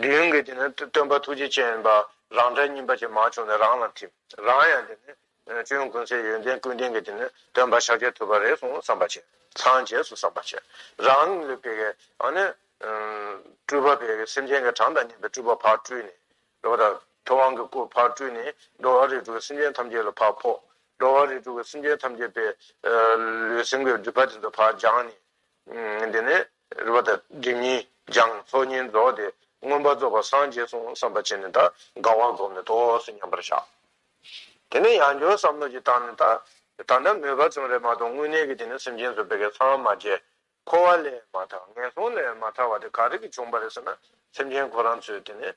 མདུན་གྱི་དེ་ནི་སྟོན་པ་ཐུགས་རྗེ་ཅན་པ་རང་འདྲ་སྙིམ་པ་ཅན་མ་བྱུང་ནས་རང་ལ་ཐིམ། རང་ཡང་དེ་ནི་གཅུན་ཀུན་སའི་ཡོན་ཏན་ཀུན་ལྡན་གྱི་དེ་ནི་སྟོན་པ་ཤཱཀྱའི་ཐུབ་པ་རེ་ཟུང་བསམ་པ་བྱས། ཚངས་རྒྱས་སུ་བསམ་པ་བྱས། རང་ལུས་པད་ཀའི་སྤྲུལ་པ་བས་ཀྱི་སེམས་ཅན་གྱི་གྲངས་དང་བསྙེན་པའི་སྤྲུལ་པ་ཕར་སྤྲུལ་ནས། འགྲོ་བ་དང། ཐུབ་དབང་གི་སྐུ་ཕར་སྤྲུལ་ནས་འགྲོ་བ་རིགས་དྲུག་གི་སེམས་ཅན་ཐམས་ཅད་ལ་ཕར་ཕོག། འགྲོ་བ་རིགས་དྲུག་གི་སེམས་ཅན་ཐམས་ཅད་པའི་ལུས་སེམས་ཀྱི་སྒྲིབ་པ་དེ་ཚོ་ཕར་སྦྱངས་ནས། དེ་ནས། རུ་བ་དང་སྒྲིབ་གཉིས་སྦྱངས་ཚོགས་གཉིས་རྫོགས་ཏེ་མངོན་པར་རྫོགས་པར་སངས་རྒྱས་གསུང་བསམ་པ་བྱས་ནས་ད་གའ་བ་བསྒོམས་ནས་ཐོག་སུ་མཉམ་པར་བཞག། དེ་ནས་ཡང་སྦྱོར་བསམ་བློ་གྱིས་བཏང་ནས་ད་ད་ན་མོས་པ་ཅུང་རེ་མ་གཏོགས་དངོས་གནས་ཀྱི་དེ་ནས་སེམས་ཅན་ཚོ་བད་ཀན་ཚང་མ་རྒྱས་འཁོར་བ་ལས་མ་ཐག་ངན་སོང་ལས་མ་ཐག་བ་དེ་ག་རེ་གི་བྱུང་བ་རེད་ཟེར་ན་སེམས་ཅན་ཁོ་རང་ཚོས་དེ་ནས་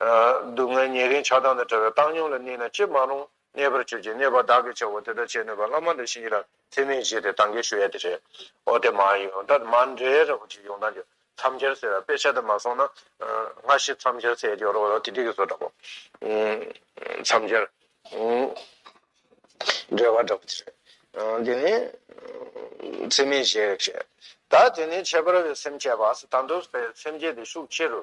སྡུག་བསྔལ་ཉེ་རིང་ཆགས་སྡང་དང་བྲལ་བའི་བཏང་སྙོམས་ལ་གནས་ན་ཅི་མ་རུང་གནས་པར་གྱུར་ཅིང་གནས་པ་བདག་གིས་བྱའོ་དེ་ལྟར་བྱེད་ནུས་པ་བླ་མ་འདི་བཞིན་ཡིད་ལ་ཚིམ་མིན་ཞེས་དེ་དང་གེགས་ཞུ་ཡ་དེ་རེད། ཨོ་དེ་མ་ཡིན་ད་མ་འདྲེ་ར་བོ་ཅིག་ཡོང་ད་འདྲེ་མཚམས་སྦྱར་ཟེར་བ་དཔེ་ཆ་དེ་མ་སོང་ན་སྔ་ཕྱི་མཚམས་སྦྱར་ཟེར་ཡ་རོགས་རོགས་ཐིག་ཐིག་གི་བཟོ་འདྲ་པོ། མཚམས་སྦྱར། འདྲེ་བ་འདྲ་པོ་དེ་རེད། དེ་ནི། ཚིམ་མིན་ཞེས་བྱས། ད་དེ་ནི་ཁྱད་པར་བའི་སེམས་བསྐྱེད་པ་ད་འདོད་པའི་སེམས་བསྐྱེད་དེ་ཤུགས་ཆེ་རུ་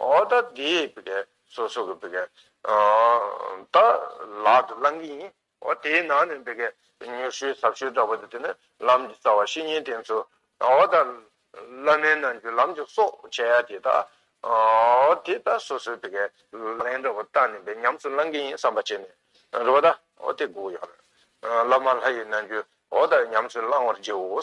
ཨོ་ད་དེས་བི་ཀའི་སོ་སོ་གི་བི་ཀའི་ད་ལག་ཏུ་བླང་གི་ཡིན། ཨོ་དེའི་ནང་ནས་བི་ཀའི་མྱུར་ཤོས་ཟབ་ཤོས་འདྲ་བོ་དེ་དེ་ནི་ལམ་གྱི་རྩ་བ་བཤེས་གཉེན་བསྟེན་ཚུལ། ཨོ་ད་བླ་མའི་རྣམས་ཀྱི་ལམ་གྱི་སྲོག་བྱ་ཡ་དེ་ད་ཨོ་དེ་ད་སོ་སོའི་བི་ཀའི་ལན་འདྲ་བོ་བཏགས་ནས་བི་ཉམས་སུ་བླང་གི་ཡིན་བསམ་པ་བྱས་ནས་རེ་བ་ད་ཨོ་དེ་སྒུག་ཡ་རེད། བླ་མ་ལྷ་ཡི་རྣལ་འབྱོར་ཨོ་ད་ཉམས་སུ་བླང་བར་བགྱིའོ།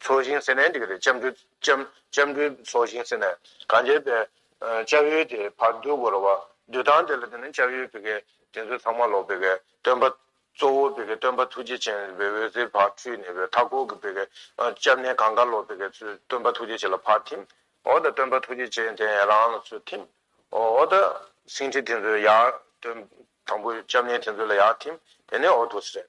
ཚོགས་ཞིང་ཟེར་ནས་འདི་ག་རེ་ལྕམ་དྲུད། ལྕམ་དྲུད་ཚོགས་ཞིང་ཟེར་ནས་གང་བྱས་པའི། ལྕགས་ཡོལ་དེ་བར་བསྡུ་དགོས་ར་བ། བསྡུ་སྟངས་དེ་ལ་བརྟེན་ནས་ལྕགས་ཡོལ་བི་གའི་དེ་ཚོ་ཚང་མ་ལོག་བི་གའི་སྟོན་པ། གཙོ་བོ་བི་གའི་སྟོན་པ་ཐུགས་རྗེ་ཅན་རི་བའི་འོད་ཟེར་བར་འཁྲུལ་ནས་བའི་མཐའ་སྐོར་གྱི་བི་གའི། ལྕམ་ནས་གང་དགའ་ལོག་བི་གའི་ཚུལ་སྟོན་པ་ཐུགས་རྗེ་ཅན་ལ་བར་ཐིམ། འོ་ད་སྟོན་པ་ཐུགས་རྗེ་ཅན་དེ་ཡང་རང་ལ་ཚུལ་ཐིམ། འོ་ད། སེང་ཁྲི་དེ་ཚོའི་ཡར། སྟོན། དང་པོའི་ལྕམ་ནས་དེ་ཚོའི་ལ་ཡར་ཐིམ། དེ་ནས་འོ་ཐུགས་སྲས།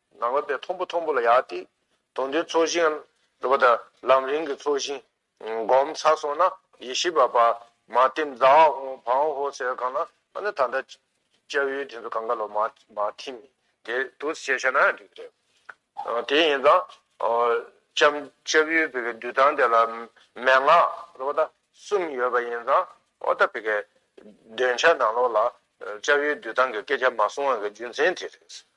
ནང་ལོགས་པའི་མཐོང་བུ་མཐོང་བུ་ལ་ཡག་སྟེ། དོན་དུ་ཚོགས་ཞིང་འདོད་པ་དང་ལམ་རིང་གི་ཚོགས་ཞིང། སྒོམ་ཚར་སོང་ན་ཡེ་ཤེས་པ་པདྨ་བསྟིམ་རྫ་དབང་བོ་ཧོ་ཟེར་གང་ན་ཨ་ན་ད་ལྟ་ལྕགས་ཡུལ་དེ་ཚོ་གངྒཱ་ལོ་མ་ཐིམ་དེ་དུ་ཞེས་བྱ་ན་འགྲིག་གི་རེད། དེ་ཡིན་ཙང། ལྕགས་ཡུལ་བི་གའི་འདུལ་སྟངས་དེ་ལ་མན་ངག་རོ་བ་ད་གསུམ་ཡོད་པ་ཡིན་ཙང་ཨོ་ད་བི་གའི་འདོན་ཆ་ནང་ལོགས་ལ་ལྕགས་ཡུལ་འདུལ་སྟངས་ཀྱི་སྐད་ཆ་མ་གསུང་བ་གི་རྒྱུ་མཚན་དེ་རེད།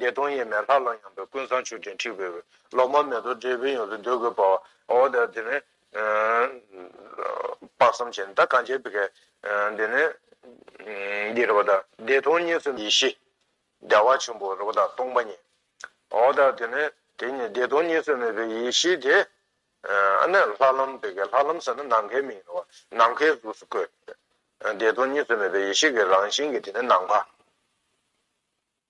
བདེ་སྟོང་ཡེ་མེད་ལྷ་ལ་ཡངས་པའི་ཀུན་བཟང་མཆོད་སྤྲིན་འཁྲིགས་པའི་འོད། ལོ་མ་མེ་ཏོག་འབྲས་བུའི་ཡོངས་སུ་འདོད་དགུའི་བར། འོ་དེ་དེ་ནི། དཔག་བསམ་བྱས་ནས་ད་གང་བྱས་པའི་གེགས། དེ་ནི། འདི་རེ་བ་ད། བདེ་སྟོང་གཉིས་སུ་མེད་ཡེ་ཤེས། བདེ་བ་ཆེན་པོ་རེ་བ་ད་སྟོང་པ་ཉིད། འོ་ད་དེ་ནི། དེ་ནི་བདེ་སྟོང་གཉིས་སུ་མེད་པའི་ཡེ་ཤེས་དེ། ཨ་ནི་ལྷ་ལམ་པའི་གེགས་ལྷ་ལམ་ཟེར་ན་ནམ་མཁའི་མིང་རེ་བ། ནམ་མཁའི་གཟུགས་སུ་བཀོད། བདེ་སྟོང་གཉིས་སུ་མེད་པའི་ཡེ་ཤེས་ཀྱི་རང་བཞིན་གྱི་དེ་ནི་ནམ་མཁའ།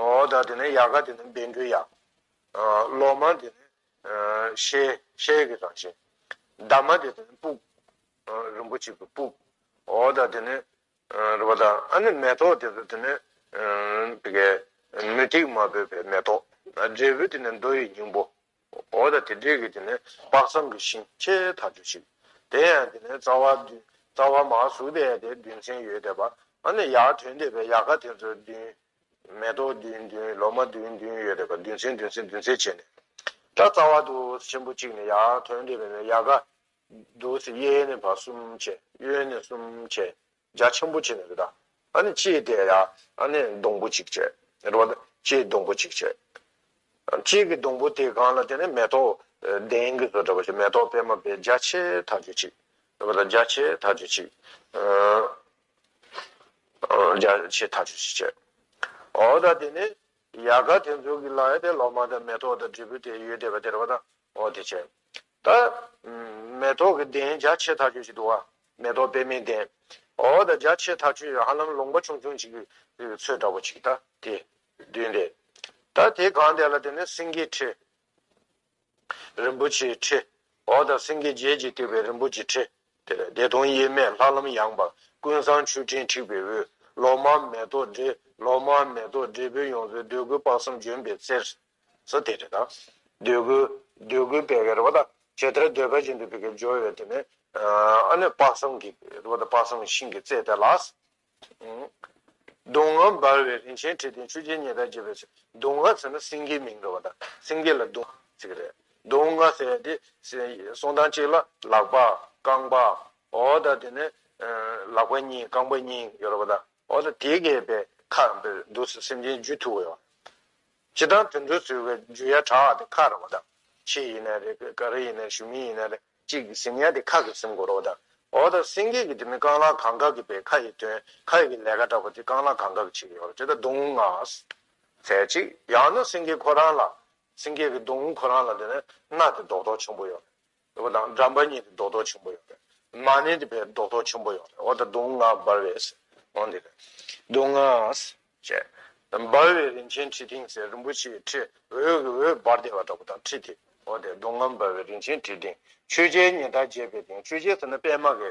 ཨོ་ད་དེ་ནས་ཡཀྵ་དེ་ནི་འབེན་འགྲོའི་ཡཀྵ། ལོ་མ་དེ་ནི་ཤེལ་ཤེལ་གྱི་རང་བཞིན། འདབ་མ་དེ་ནི་སྤུག། རིན་པོ་ཆེ་གི་སྤུག། ཨོ་ད་དེ་ནི་རེ་བ་ད། ཨ་ནི་མེ་ཏོག་དེ་ཚོ་དེ་ནི། དེ་གའི་མུ་ཏིག་མ་བོས་པའི་མེ་ཏོག། འབྲས་བུ་དེ་ནི་མདོ་ཡི་སྙིང་པོ། འོ་ད་དེ་འདྲས་ཀྱི་དེ་ནས་དཔག་བསམ་གྱི་ཤིང་ཁྱེད་ད་ཆོས་ཤིག། དེ་ཡང་དེ་ནས་རྩ་བ། རྩ་བ་མ་གཟུགས་དེ་ཡང་དེ་བདུན་ཚན་ཡོད་དེ། བ་ནི་ཡ་དོན་དེ་བས་ཡ་ག་དེ་ཚོ་བདུན། མེ་ཏོག་བདུན་བདུན་ལོ་མ་བདུན་བདུན་ཡོད་དེ། བ་བདུན་ཚན་བདུན་ཚན་བདུན་ཚན་བྱས་ནས། ཏྲ་རྩ་བ་དུ་ཆེན་པོ་གཅིག་ནི་ཡ་དོན་དེ་བས་ཡ་ག། དུ་སི་གཡས་ནས་བ་གསུམ་བྱས་གཡོན་ནས་གསུམ་བྱས། རྒྱ་ཆེན་པོ་བྱས་ནས་རེད་ད། ཨ་ནི་ལྕེའི་དེ་ཡ་ཨ་ནི་སྡོང་པོ་གཅིག་བྱས། རེད་པ་ད་ལྕེའི་སྡོང་པོ་གཅིག་བྱས། ལྕེ་གི་སྡོང་པོ་དེ་གང་ལ་དེ་ནི་མེ་ཏོག་གདན་གྱི་བཟོ་གྲ་པ་ཞིག་མེ་ཏོག་པད་མ་པའི་རྒྱ་ཆེ་དག་གཅིག་བྱས། རེད་པ་ད་རྒྱ་ཆེ་དག་གཅིག་བྱས། རྒྱ་ཆེ་དག་གཅིག་བྱས། འོ་ད་དེ་ནི་ཡལ་ག་དེ་ཚོ་གི་ལ་ཡ་དེ་ལོ་མ་དང་མེ་ཏོག་དང་དྲིལ་བུ་དེ་ཡོད་དེ་བ་དེ་རེད་པ་ད། འོ་དེ་བྱས། ད། མེ་ཏོག་གི་གདན་རྒྱ་ཆེ་ཐག་ཆོད་ཅིག་འདུག་ཨ། མེ་ཏོག་པད་མའི་གདན། འོ་ད་རྒྱ་ཆེ་ཐག་ཆོད་ཧ་ལམ་ལུང་པ་ཆུང་ཆུང་ཅིག་གི་ཚོད་འདྲ་བོ་ཅིག་ད་དེ། བདུན་ཏེ། ད་དེ་གང་དེ་ལ་དེ་ནི་སེང་གེའི་ཁྲི། རིན་པོ་ཆེའི་ཁྲི། འོ་ད་སེང་གེ་བརྒྱད་ཀྱིས་བཏེགས་པའི་རིན་པོ་ཆེའི་ཁྲི། དེ་ལས་བདེ་སྟོང་དབྱེར་མེད་ལྷ་ལམ་ཡངས་པ། ཀུན་བཟང་ཆུ་སྤྲིན་འཁྲིགས་པའི་དབུས། ལོ་མ་མེ་ཏོག་འབྲས། ལོ་མ་མེ་ཏོག་འབྲས་བུ་ཡོངས་སུ་འདོད་དགུའི་དཔག་བསམ་ལྗོན་པའི་རྩེར། སོ་སྟེ་རེ་དང། འདོད་དགུ། འདོད་དགུའི་བད་ཀན་རེ་བ་དང། བྱད་ཐལ་འདོད་ཁ་ཅན་དུ་བད་ཀན་སྦྱོར་ཡོད་དེ་ནི། ཨ་ནུས་དཔག་བསམ་གྱི་རེ་བ་དང་དཔག་བསམ་གྱི་ཤིང་གི་རྩེ་དེ་ལ། གདུང་ངོ་འབར་བའི་རིན་ཆེན་ཁྲི་སྟེང་ཆུ་སྐྱེས་ཉི་ཟླ་བརྒྱད་པའི་ཚེ་གདུང་ངོ་ཟེར་ན་སེང་གེའི་མིང་རེ་བ་དང་སེང་གེ་ལ་གདུང་ཟེར་གྱི་རེད། གདུང་ལྔ་ཟེར་ཏེ། གསུང་ཐང་གཅིག་ལ་ལག་པ། རྐང་པ། འོ་དང་དེ་ནས། ལག་པ་གཉིས་རྐང་པ་གཉིས་ཡོད་རེ་བ་དང། འོ་དང་དེ་གས་པའི་ཁ་འདུག་སེམས་ཅན་རྒྱུད་ཐུག་པའི་བ། ཇི་ལྟར་དུད་འགྲོའི་ཚུལ་བའི་རྒྱུ་ཡ་གྲ་བ་དེ་ཁ་ར་བ་དང། ཕྱི་ཡི་ནས་རེ་གི་ག་རེ་ཡི་ནས་ཞུ་མི་ཡི་ནས་རེ་གཅིག་གི་ཟིན་ཡ་དེ་ཁ་གི་ཟིན་གོ་ར་བ་དང། འོ་ད་སེང་གེ་གི་དེ་མི་རྐང་ལག་གང་ག་གི་པའི་ཁ་ཡི་དོན་ཁ་ཡི་གི་ལས་ཀ་འདྲ་བ་དེ་རྐང་ལག་གང་ག་གི་ཕྱི་ཡོ་ར་དེ་ད་གདུང་ངག། ཚད་ཅིག་ཡང་ན་སེང་གེ་ཁོ་རང་ལ། སེང་གེ་གི་གདུང་ཁོ་རང་ལ་དེ་ནས་སྣ་དེ་རྡོག་རྡོག་ཆུང་པོ་ཡོ་ར། ཟེར་བ་དང་འགྲམ་པ་གཉིས་ཀྱི་རྡོག་རྡོག་ཆེན་པོ་ཡོད་རེད། མ་ཎི་དེ་བས་རྡོག་རྡོག་ཆེན་པོ་ཡོད་རེད། འོ་ད་དུང་ང་འབར་བས་ཟེར། འོ་འདི་རེད། དུང་ང། ཅེས། འབར་བའི་རིན་ཆེན་ཁྲི་སྟེང་ཟེར་རིན་པོ་ཆེའི་ཁྲི་འོད་ཀྱི་འོད་འབར་བདེ་བ་འདྲ་པོ་དང་ཁྲི་དེ། འོ་དེ་དུང་ང་འབར་བའི་རིན་ཆེན་ཁྲི་སྟེང། ཆོས་རྗེའི་ཉི་ཟླ་རྒྱས་པའི་སྟེང་ཆོས་རྗེ་ཟེར་ན་པད་མ་གི་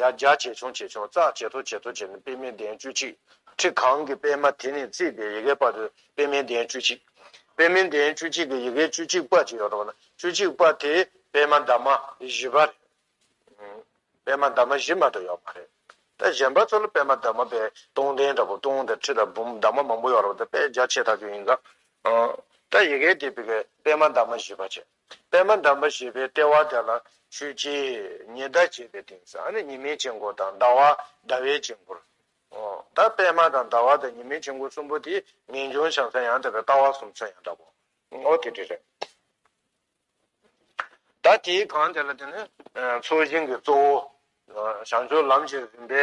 ཡར་རྒྱག་ཇེ་ཆུང་ཇེ་ཆུང་ཙག་ཇེ་མཐོ་ཇེ་མཐོ་བྱས་ནས་པདྨའི་གདན་བཅུ་གཅིག། ཁྲི་གང་གི་པདྨ་དེ་ནས་བརྩིས་པའི་ཡི་གེ་བར་དུ་པདྨའི་གདན་བཅུ་གཅིག། པདྨའི་གདན་བཅུ་གཅིག་གི་ཡི་གེ་བཅུ་གཅིག་པ་ཅིག་ཡོད་དོ་ན་བཅུ་གཅིག་པ་དེ་པདྨ་འདབ་མ་བཞི་པ་རེད། པདྨ་འདབ་མ་བཞི་མ་གཏོགས་ཡོད་མ་རེད། ད་གཞན་པ་ཚོ་ལ་པདྨ་འདབ་མ་པའི་སྟོང་ལྡན་འདྲ་པོ་སྟོང་དང་ཁྲི་དང་འབུམ་འདབ་མ་མང་པོ་ཡོད་རེད་པ་ད་དཔེ་རྒྱ་ཆེ་ཐག་ཆོད་ཡིན་ཙང། ད་ཡི་གེ་དེ་པདྨ་འདབ་མ་བཞི་པ་བྱས། པདྨ་འདབ་མ་ཞེས་པའི་ལྟེ་བ་དེ་ལ་ཆོས་རྗེ་ཉི་ཟླ་ཅེས་པའི་དེང་སང་ནི་ཉི་མའི་དཀྱིལ་འཁོར་དང་ཟླ་བ་ཟླ་བའི་དཀྱིལ་འཁོར། ད་པདྨ་དང་ཟླ་བ་དང་ཉི་མའི་དཀྱིལ་འཁོར་གསུམ་པོ་དེ་ངེས་འབྱུང་བྱང་ས་ཡང་དག་པའི་ལྟ་བ་གསུམ་མཚོན་ཡང་འདྲ་བོ། ཨོ་དེ་འདྲ་རེད། ད་དེའི་གང་དེ་ལ་དེ་ནི་མཚོ་ཞིང་གི་གཙོ་བོ། བྱང་ཕྱོགས་ལམ་གྱི་རིམ་པའི་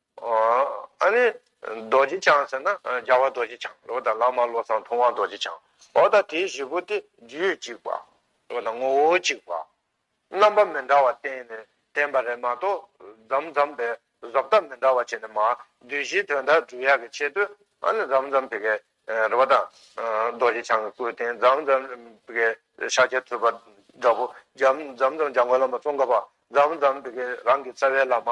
ཨཱ་ནི། རྡོ་རྗེ་འཆང་ཟེར་ན་རྒྱལ་བ་རྡོ་རྗེ་འཆང་རེད་བ་དང་བླ་མ་བློ་བཟང་ཐུབ་དབང་རྡོ་རྗེ་འཆང་བ་དང་དེའི་བཞི་པོ་སྟེ་རྒྱུད་གཅིག་པ་རེད་བ་དང་ངོ་བོ་གཅིག་པ། རྣམ་པ་མི་འདྲ་བ་བསྟན་ནས་བསྟན་པ་རེད་མ་གཏོགས་འཛམ་འཛམ་པའི་བཟོ་ལྟ་མི་འདྲ་བ་བྱས་ནས་མ་བདུད་བཞིའི་དོན་དག་སྒྲུབ་ཡག་གི་ཆེད་དུ་ཨཱ་ནི་འཛམ་འཛམ་བི་གའི་རེད་བ་དང་རྡོ་རྗེ་འཆང་གི་སྐུ་རྟེན་འཛམ་འཛམ་བི་གའི་ཤཱཀྱ་ཐུབ་པ་འདྲ་པོ་འཛམ་འཛམ་འཇམ་མགོན་བླ་མ་ཙོང་ཁ་པ་འཛམ་འཛམ་བི་གའི་རང་གི་རྩ་བའི་བླ་མ་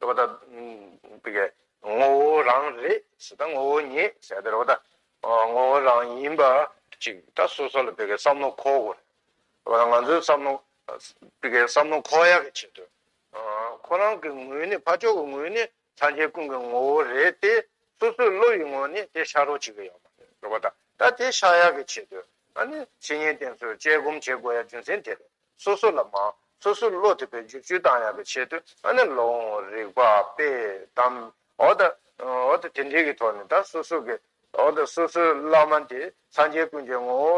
རོ་ད། དེ་ཀའི་ངོ་བོ་རང་རེད་ཟེར་ད་ངོ་བོ་ཉིད་ཟེར་ད་རོ་ད། ངོ་བོ་རང་ཡིན་པ་ཅིག་ད་སོ་སོ་ལ་དེ་ཀའི་བསམ་བློ་འཁོར་དགོས་རེད། རོ་ད་ང་ཚོའི་བསམ་བློ་དེ་ཀའི་བསམ་བློ་འཁོར་ཡག་གི་ཆེད་དུ། ཁོ་རང་གི་ངོས་ནས་ཕ་ཅོག་གི་ངོས་ནས་ཚང་ཆེན་ཀུན་གྱི་ངོ་བོ་རེད་དེ་སོ་སོའི་བློ་ཡི་ངོ་ནས་དེ་ཤར་རོ་ཅིག་གི་ཡོད་མ་རེད་རོ་ད། ད་དེ་ཤར་ཡག་གི་ཆེད་དུ། ཨ་ནི་སེ་ཉེན་ཏན་ཚོས་དཔྱད་སྒོམ་བྱེད་དགོས་ཡ་རྒྱུ་མཚན་དེ་རེད། སོ་སོ་ལ་མ། སོ་སོའི་བློ་དེ་བས་འཇུག་ཆུའི་གདངས་ཡངས་པའི་ཆེད་དུ་ཨ་ནི་ལོ་འོང་བར་རིག་པ་པས་གདམ། འོ་ད། འོ་ད་དེ་འདྲའི་གི་ཐོག་ནས་ད་སོ་སོ་གི། འོ་ད་སོ་སོའི་བླ་མ་དེ་སངས་རྒྱས་ཀུན་གྱི་ངོ་བོ་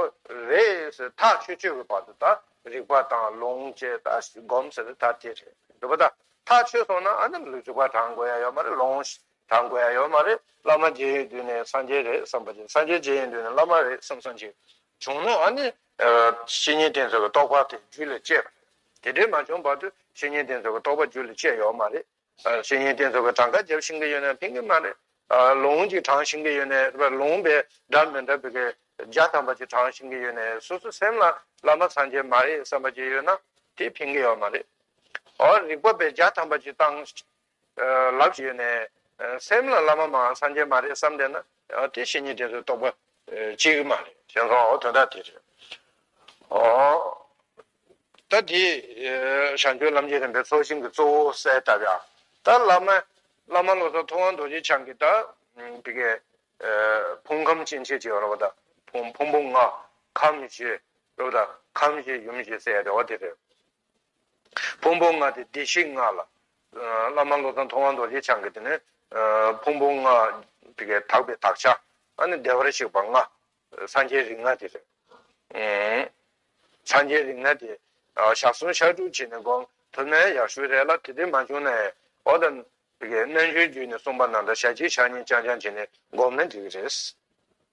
རེད་ཟེར་ཐག་ཆོད་ཆོད་ཀྱི་བར་དུ་ད་རིག་པ་དང་ལོངས་སྤྱད་ད་སྒོམ་ཟེར་ད་དེ་རེད་འགྲུབ་པ་ད་ཐག་ཆོད་སོང་ན་ཨ་ནི་རིག་པ་དྲང་དགོས་ཡ་ཡོད་མ་རེད་ལོངས་དྲང་དགོས་ཡ་ཡོད་མ་རེད་བླ་མ་རྗེ་ཡི་མདུན་ནས་སངས་རྒྱས་རེད་བསམ་པ་རེད་སངས་རྒྱས་རྗེ་ཡི་མདུན་ནས་བླ་མ་རེད་བསམ་བསམ་ཅིག་བྱུང་ན་ཨ་ནི་བཤེས་གཉེན་དེ་ཚོ་གི་རྟོགས་པ་དེ་རྒྱུད་ལ་སྐྱེས་པ་དེ་འདྲས་མ་བྱུང་བར་དུ་བཤེས་གཉེན་དེ་ཚོ་གི་རྟོགས་པ་རྒྱུད་ལ་སྐྱེས་ཡོད་མ་རེད། བཤེས་གཉེན་དེ་ཚོ་གི་གྲངས་ཀ་རྒྱབ་ཤིང་གི་ཡོད་ན་ཕན་གི་མ་རེད། ལུང་གཅིག་དྲངས་ཤིང་གི་ཡོད་ནས་ལུང་པའི་སྒྲ་མི་འདྲ་བི་གི་རྒྱ་ཐམ་པ་ཅིག་དྲངས་ཤིང་གི་ཡོད་ནས་སོ་སོ་སེམས་ལ་བླ་མ་སངས་རྒྱས་མ་རེད་བསམ་པ་ཅིག་ཡོད་ན་དེ་ཕན་གི་ཡོད་མ་རེད། རིགས་པ་བའི་རྒྱ་ཐམ་པ་ཅིག་བཏང། ལགས་ཞེས་ནས། སེམས་ལ་བླ་མ་མ་འང་སངས་རྒྱས་མ་རེད་བསམ་བསྡད་ན། དེ་བཞིན་ཉིད་དེ་ཚོའི་རྟོག་པ་གཅིག་མ་རེད། དེང་སང་འོ་དོན་དག་དེ་རེད། ད་དེ་ཞང་ཆོས་ལམ་གྱི་རིམ་པའི་ཚོགས་ཞིང་གི་གཙོ་བོ་གསལ་བཏབ་ཡ། ད་བླ་མ། བླ་མ་བློ་བཟང་ཐུབ་དབང་རྡོ་རྗེ་འཆང་གིས་ད། དེ་གའི། ཕུང་ཁམས་སྐྱེ་མཆེད་ཅེས་པ་རོ་བ་ད། ཕུང་པོ་ལྔ། ཁམས་བཞི། རོ་བ་ད། ཁམས་བཞི་ཡུམ་བཞི་ཟེར་ཡ་དེ་འོ་དེ་རེད། ཕུང་པོ་ལྔ་སྟེ་བདེ་གཤེགས་ལྔ་ལ། བླ་མ་བློ་བཟང་མཐོང་དབང་རྡོ་རྗེ་འཆང་གིས་དེ་ནི། ཕུང་པོ་ལྔ། དེ་ཀའི་དག་པའི་དག་བྱ། ནི་བདེ་བར་གཤེགས་པ་ལྔ། སངས་རྒྱས་རིགས་ལྔ་དེ་རེད། སངས་རྒྱས་རིགས་ལྔ་དེ། ཞག་གསུམ་ཞག་དྲུག་བྱས་ནས་བསྒོམ། ཐུར་མའི་ཡར་ཤུལ་རས་ལ་དེ་དུས་མ་བྱུང་ན་ཡང། འོ་ད། རྣལ་འབྱོར་རྒྱུད་ནས་གསུངས་པ་རྣམས་དང་ཞག་གཅིག་ཞག་གཉིས་རྐྱང་རྐྱང་བྱས་ནས་བསྒོམ་ན་འགྲིག་གི་རེད།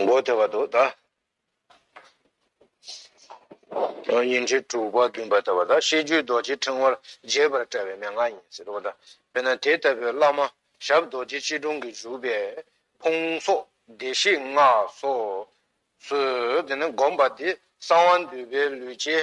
མགོ་བདེ་བ་དོ་དང། ཉིན་ཁྲི་དྲུག་པ་བདུན་པ་ལྟ་བ་དང་ཤེས་རྒྱུད་རྡོ་རྗེ་ཕྲེང་བར་རྒྱས་པར་བཀྲལ་བའི་མན་ངག་ཡིན་ཟེར་བ་དང། དཔེར་ན་དེ་ལྟ་བུའི་བླ་མ་ཞབས་རྡོ་རྗེ་སྐྱིལ་ཀྲུང་གིས་བཞུགས་པའི་ཕུང་སོགས་བདེ་གཤེགས་སྔགས་སོགས་སུ་བསྒོམས་པ་དེ་གསང་བ་འདུས་པའི་ལུས་ཅན་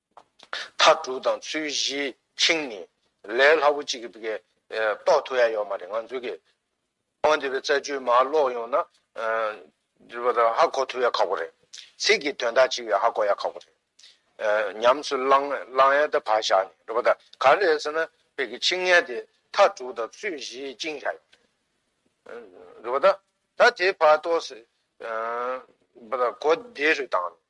མཐའ་དྲུག་དང་ཚུལ་བཞིའི་ཆིངས་ནི། ལས་སླ་པོ་གཅིག་གིས་དགེ། རྟོགས་ཐུབ་ཡ་ཡོད་མ་རེད་ང་ཚོའི་དགེ། ཁང་འདི་བའི་རྩ་རྒྱུད་མ་ཀློག་ཡོང་ན། འདི་བ་དང་ཧ་གོ་ཐུབ་ཡ་ཁག་པོ་རེད། ཚིག་གི་དོན་དག་ཅིག་ཡང་ཧ་གོ་ཡ་ཁག་པོ་རེད། ཉམས་སུ་བླངས་ཡ་ད་བར་བཞག་ནས་འགྲོ་བ་ད་ག་རེད་ཟེར་ན། དཔེ་གི་ཆིངས་ངན་དེ་མཐའ་དྲུག་དང་ཚུལ་བཞིའི་བཅིངས་བཞག་ཡོད་རེད། འགྲོ་བ་ད། ད་དེ་བར་ཏོགས། བ་ད་གོ་བདེ་རུ་བཏང་ནས།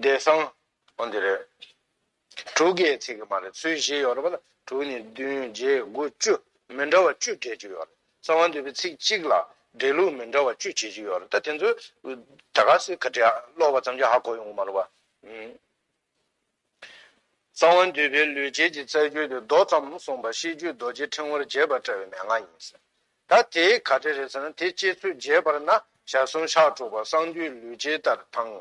བདེ་གསང་འོ་འདི་རེད། དྲུག་གི་ཚིག་གི་མ་རེད་ཚུལ་བཞི་ཡོད་རེད་པ་ལ་དྲུག་ནི་བདུན་བརྒྱད་དགུ་བཅུ་མི་འདྲ་བ་བཅུ་སྦྲེལ་གྱི་ཡོད་རེད་གསང་བ་འདུས་པའི་ཚིག་གཅིག་ལ་སྦྲེལ་ལུགས་མི་འདྲ་བ་བཅུ་བྱེད་ཀྱི་ཡོད་རེད་ད་དེ་ཚོ་ད་ག་ཟེ་ག་དྲི་ཨ་ཀློག་པ་ཙམ་གྱིས་ཧ་གོ་ཡོང་གི་མ་རེད་པ། རྩ་བ་འདུས་པའི་ལུས་བྱད་ཀྱི་རྩ་རྒྱུད་དུ་མདོ་ཙམ་གསུངས་པ་ཤེས་རྒྱུད་རྡོ་རྗེ་ཕྲེང་བར་རྒྱས་པར་བཀྲལ་བའི་མན་ངག་ཡིན། ད་དེའི་ག་དེ་རེད་ཟེར་ན་དེ་སྐྱེས་ཚུལ་རྒྱས་པར་ན་ཞག་གསུམ་ཕྱག་དྲུག་པ་གསང་འདུས་ལུས་བྱད་ལྟར་དང།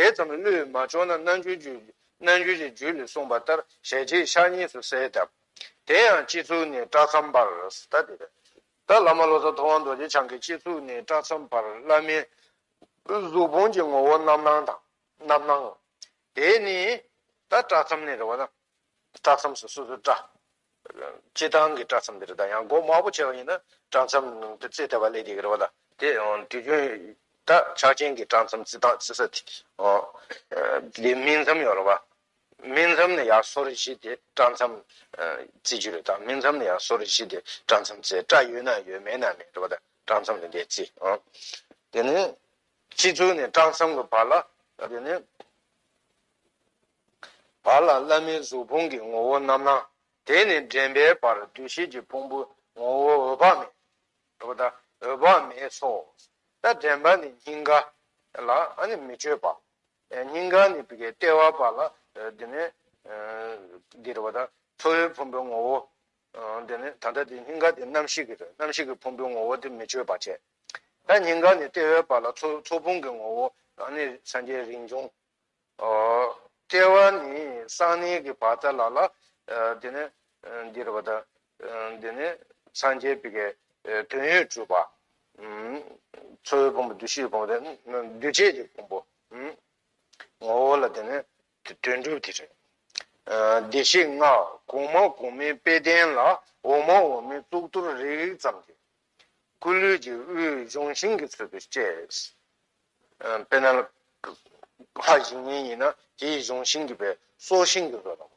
དེ་ཙམ་བློས་མ་ལྕོགས་ན་རྣལ་འབྱོར་རྒྱུད་རྣལ་འབྱོར་གྱི་རྒྱུད་ལས་གསུངས་པ་ལྟར་ཞལ་གྱིས་ཕྱག་གཉིས་སུ་གསལ་གདབ། དེ་ཡང་སྤྱི་གཙུག་ནས་བཀྲག་མཚམས་བར་ད་དེ་རེད། ད་བླ་མ་བློ་བཟང་ཐུབ་དབང་རྡོ་རྗེ་འཆང་གིས་སྤྱི་གཙུག་ནས་བཀྲག་མཚམས་བར་བླ་མའི་གཟུགས་ཕུང་གི་ངོ་བོ་རྣམ་སྣང་དང། རྣམ་སྣང་ངོ། དེ་ནི་ད་བཀྲ་མཚམས་ནི་རེ་བ་ན། བཀྲ་མཚམས་སུ་སོ་སོར་བཀྲ། སྤྱི་དང་གི་བཀྲ་མཚམས་འདིར་ད་ཡང་སྒོ་དམར་པོ་ཆེ་བ་ཡིན་ན་བཀྲ་མཚམས་ནང་དུ་རྩིས་ཐེབས་པ་ལས་དེ་གི་རེ་བ་ལ། དེ་ཡང་དུས་རྒྱུན་ད་ཕྱག་ཆེན་གྱི་བཀྲ་མཚམས་རྩི་དང་རྩི་ས་ཨོ། དེ་སྨིན་མཚམས་ཡོ་རེ་བ། སྨིན་མཚམས་ནི་ཡང་སོར་བཞི་དེ་བཀྲ་མཚམས་རྩི་རྒྱུ་རེ་ད་སྨིན་མཚམས་ནི་ཡང་སོར་བཞི་དེ་བཀྲ་མཚམས་རྩི་བཀྲ་ཡོད་ན་ཡོད་མེད་ན་མེད་རེ་བ་ད་བཀྲ་མཚམས་ནི་དེ་རྩི་ཨོ། དེ་ནི། སྤྱི་གཙུག་ནས་སྐྲ་མཚམས་ཀྱི་བར་ལ་དེ་ནས་བར་ལ་བླ་མའི་གཟུགས་ཕུང་གི་ངོ་བོ་རྣམ་སྣང། དེ་ནས་འདྲེན་པའི་བར་འདུ་ཤེས་ཀྱི་ཕུང་པོའི་ངོ་བོ་འོད་དཔག་མེད། ལྟ་བུ་དང་འོད་དཔག་མེད་ཚོགས། ད་འདྲེན་པ་ནི་སྙིང་ག་ལ་མི་བསྐྱོད་པ། སྙིང་ག་ནི་ལྟེ་བ་བར་ལ་དེ་ནས་འདིར་བ་དང་ཁྲོ་བོའི་ཕུང་པོའི་ངོ་བོ། དེ་ནས་ད་ལྟ་དེ་སྙིང་ག་དེ་རྣམ་ཤེས་ཀྱི་རྣམ་ཤེས་ཀྱི་ཕུང་པོའི་ངོ་བོ་དེ་མི་བསྐྱོད་པ་བྱས། ད་སྙིང་ག་ནས་ལྟེ་བའི་བར་ལ་ཚོགས་ཕུང་གི་ངོ་བོ། གང་ནས་སངས་རྒྱས་རིན་འབྱུང། ལྟེ་བ་ནས་གསང་གནས་ཀྱི་བར་ད་ལ་ལ། དེ་ནས་འདིར་བ་དང། དེ་ནས་སངས་རྒྱས་པི་ཀའི་དོན་ཡོད་གྲུབ་པ། ཚོགས་ཡོད་ཕུང་པོ་བདུད་བཞིའི་ཕུང་པོ། འདུས་བྱས་ཀྱི་ཕུང་པོ། ངོ་བོ་ལ་དེ་ནས་དོན་གྲུབ་དེ་རེད། བདེ་གཤེགས་སྔགས་གོང་མ་གོང་མའི་དཔེས་བསྟན་ལ་འོག་མ་འོག་མའི་གཙུག་ཏོར་རིག་རིག་ཙམ་གྱིས། སྐུ་ལུས་ཀྱི་དབུས་སྦྱོང་བྱིན་གྱིས་ཚུད་པའི་སྐྱེས། དཔེར་ན། ལྷ་ཡིན་མིན་ཡིན་ན་དེ་ཡི་སྦྱོང་བྱིན་གྱིས་པའི་སྲོག་ཤིང་གི་རོ་དང།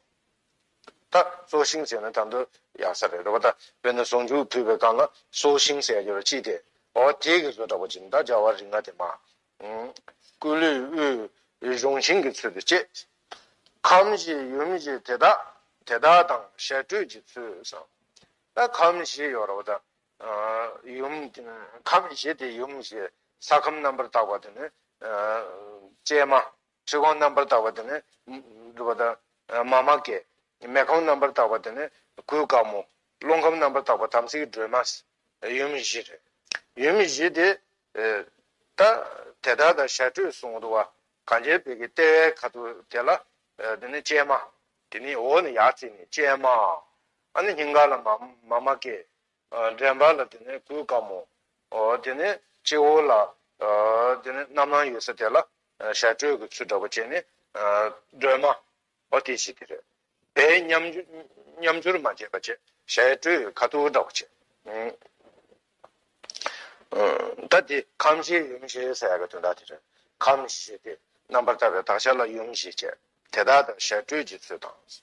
ད་སྲོག་ཤིང་ཟེར་ན་དང་དུ་ཡག་ས་རེད་རེད་པ་ད་དཔེར་ན་ཟུང་འཇུག་བུས་པའི་སྒང་ལ་སྲོག་ཤིང་ཟེར་ཡག་རྒྱུ་ར་ཅི་སྟེ། ཨོ་དེས་གི་བཟོ་འདྲ་པོ་ཅིག་འདའ་སྦྱར་བ་རིགས་ལྔ་དེ་མ། སྐུ་ལུས་དབུས་སྦྱོང་བྱིན་གྱིས་ཚུད་པའི་སྐྱེས། ཁམས་བཞི་ཡུམ་བཞི་དེ་དག་དེ་དག་དང་ཞལ་སྤྲོད་ཀྱི་ཚུལ་བསམ། ལྟར་ཁམས་བཞི་ཡོད་རོ་དང། ཡུམ། ཁམས་བཞི་དེ་ཡུམ་བཞི། ས་ཁམས་རྣམ་པར་དག་པ་དེ་ནི། སྤྱན་མ། ཁྲི་གོང་རྣམ་པར་དག་པ་དེ་ནི། འདུ་བ་དང། མཱ་མ་ཀཱི། མེ་ཁམས་རྣམ་པར་དག་པ་དེ་ནི། གུའི་དཀར་མོ། རླུང་ཁམས་རྣམ་པར་དག་པ་དམ་ཚིག་གི་སྒྲོན་མ། ཡུམ་བཞི་རེ། ཡུམ་བཞི་དེ། ལྟར། དེ་དག་དང་ཞག་ཁྲོས་གསུང་འདུ་བ། གང་བྱེད་བོད་ཀྱི་ལྟེ་བའི་ཁ་དོག་དེ་ལ། དེ་ནི་སྤྱན་མ། དེ་ནི་འོག་ནས་ཡར་བརྩིས་ནས་སྤྱན་མ། ཨ་ནི་སྙིང་ག་ལ་མ་མ་མ་ཀེ། འདྲེན་པ་ལ་དེ་ནས་གུས་བཀའ་མོ། དེ་ནས་སྤྱི་བོ་ལ། དེ་ནས་རྣམ་སྣང་ཡོད་ས་དེ་ལ། ཞལ་དྲོད་ཀྱི་ཚུལ་འདྲ་པོ་བྱས་ནས། སྒྲོལ་མ། ཨོ་དེ་ཞིག་གི་རེད། དེ་མཉམ། སྦྱོར་མ་བྱས་པ་བྱས། ཞལ་དྲོད་ཁ་ཐུག་འདྲ་པོ་བྱས། ད་དེ་ཁམས་ཞེས་ཡུམ་ཞེས་ཟེར་ཡ་གི་དོན་དག་དེ་རེད། ཁམས་ཞེས་དེ་རྣམ་པར་ལྟ་བའི་དག་བྱ་ལ་ཡུམ་ཞེས་བྱས། དེ་དག་དང་ཞལ་དྲོད་ཀྱི་ཚུལ་དང།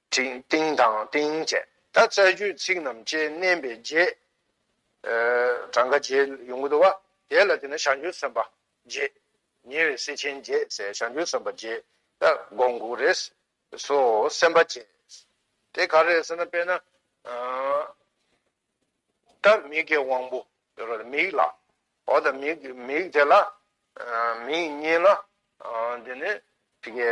ཏིང་དང་ཏིང་བཅས་ད་བཙའ་རྒྱུད་ཚིག་རྣམས་བཅས་བསྣན་པའི་རྗེས། གྲངས་ཀ་རྗེས་ཡོངས་བསྡུ་བ། དེ་ལ་དེ་ནས་ཞག་འགྱུར་སོན་པ་རྗེས། ཉེ་བའི་སྲས་ཆེན་རྗེས་ཟེར་ཞག་འགྱུར་སོན་པ་རྗེས་ད་དགོངས་འགུགས་རེ་སོ་སེམས་དཔའ་རྗེས། དེ་ག་རེད་ཟེར་ན་དཔེར་ན། ད་མིག་གི་དབང་པོ་ཟེར་བ་ལ་མིག་ལ་འོ་ད་མིག་དེ་ལ་མིག་གཉིས་ལ་དེ་ནས་དེ་གའི་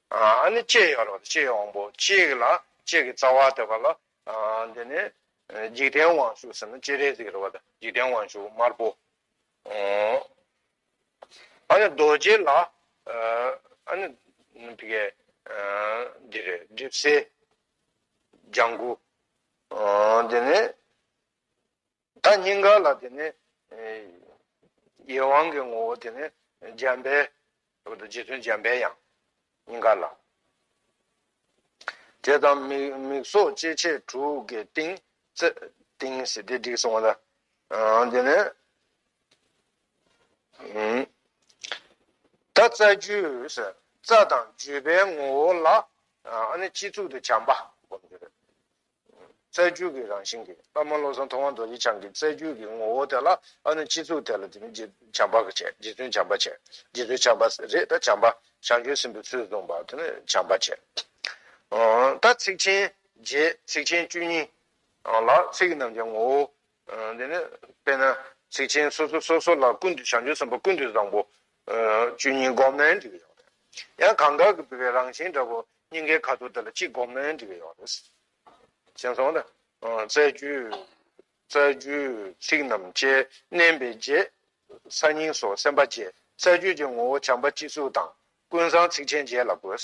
ཨ་ནི་ལྕེ་ཡོད་ལ་ལྕེའི་དབང་པོ་གཅིག་ལ་ལྕེ་གི་རྩ་བ་དེ་བ་ལ། འདི་ནི་འཇིག་རྟེན་དབང་ཕྱུག་ཟེར་ན་སྤྱན་རས་གཟིགས་རེད་བ་དང་འཇིག་རྟེན་དབང་ཕྱུག་དམར་པོ། ཨ་ནི་རྡོ་རྗེ་ལ། ཨ་ནི་འདི་གའི་འདི་རེད་སྒྲིབ་སེལ་ལྗང་གུ། འདི་ནི། ད་སྙིང་ག་ལ་དེ་ནས་ཡེ་དབང་གི་ངོ་བོ་དེ་ནས་འཇམ་དཔལ་སོགས་རྡོ་རྗེ་བཙུན་འཇམ་དཔལ་ཡང་སྙིང་ག་ལ། དེ་དང་མིག་སོགས་སྐྱེ་མཆེད་དྲུག་གི་ཏིང། ཏིང་ཟེར་དེ་འགྲིག་སོང་བ་ལ་དེ་ནས། ད་རྩ་རྒྱུད་ཟེར་རྩ་དང་རྒྱུད་པའི་ངོ་བོ་ལ་ཨ་ནི་སྤྱི་གཙུག་ཏུ་བྱམས་པ་བསྒོམ་རྒྱུ་རེད། རྩལ་རྒྱུད་ཀྱི་རང་བཞིན་གྱི་བླ་མ་བློ་བཟང་ཐུབ་དབང་རྡོ་རྗེ་འཆང་གི་རྩལ་རྒྱུད་ཀྱི་ངོ་བོ་དེ་ལ་ཨ་ནུ་སྤྱི་གཙུག་དེ་ལ་དེ་ནི་རྗེ་བཙུན་བྱམས་པ་ཆེ་རྗེ་བཙུན་བྱམས་པ་ཆེ་རྗེ་བཙུན་བྱམས་པ་རེད་ད་བྱམས་པ་ཞང་ཆོས་སྲིན་པོའི་ཚུལ་བཟུང་བ་དེ་ནི་བྱམས་པ་ཆེ། ད་ཚིགས་ཆེན་རྗེས་ཚིགས་ཆེན་བཅུ་གཉིས། ལ་ཚིགས་རྣམས་ཀྱི་ངོ་བོ་འདི་ནི་དཔེར་ན་ཚིག་ཆེན་སོ་སོ་སོ་སོ་ལ་ཀུན་ཏུ་བྱང་ཆུབ་སེམས་དཔའ་ཀུན་ཏུ་བཟང་པོ། བཅུ་གཉིས་སྒོམ་ལན་འབྲི་བའི་ཡོག་རེད། ཡང་གང་དགར་གྱི་བུད་པའི་རང་བཞིན་འདྲ་པོ་སྙིང་གའི་ཁ་དོག་དེ་ལ་གཅིག་སྒོམ་ལན་འབྲི་བའི་ཡོག་རེད། ཞེན་སོང་ལ། རྩ་རྒྱུད་ཚིག་རྣམས་བཅད་མནན་པའི་རྗེས། ས་སྙིང་སོགས་སེམས་དཔའ་བརྒྱད་རྩ་རྒྱུད་ཀྱི་ངོ་བོ་བྱམས་པ་སྤྱི་གཙུག་དང་ཀུན་བཟང་ཚིག་ཆེན་བརྒྱད་ལ་དགོད།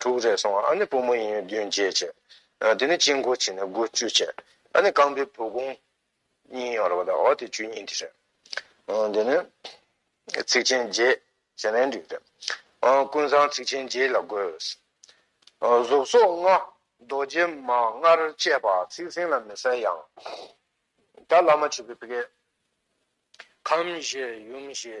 དྲུག་རེ་སོང་ཨ་ནི་བུ་མོ་ཡིན་བདུན་བརྒྱད་བྱས། དེ་ནས་དཔྱིད་འགོ་བྱས་ནས་དགུ་བཅུ་བྱས། ཨ་ནི་རྐང་པའི་བུ་གུང། གཉིས་ཡོང་རེ་བ་དང་འོ་དེ་བཅུ་གཉིས་དེ་རེད། དེ་ནས། ཚིགས་ཆེན་བརྒྱད། ཞེ་ནའི་འགྲིག་རེད། ཀུན་བཟང་ཚིགས་ཆེན་བརྒྱད་ལ་དགོས། གཟུགས་སོགས་ལྔ། རྡོ་རྗེ་མ་ལྔར་བཅས་པ་ཚིག་ཟིན་ལ་མི་གསལ་ཡང། ད་བླ་མ་ཆོས་ཀྱི་བཀའི། ཁམས་བཞི་ཡུམ་བཞི།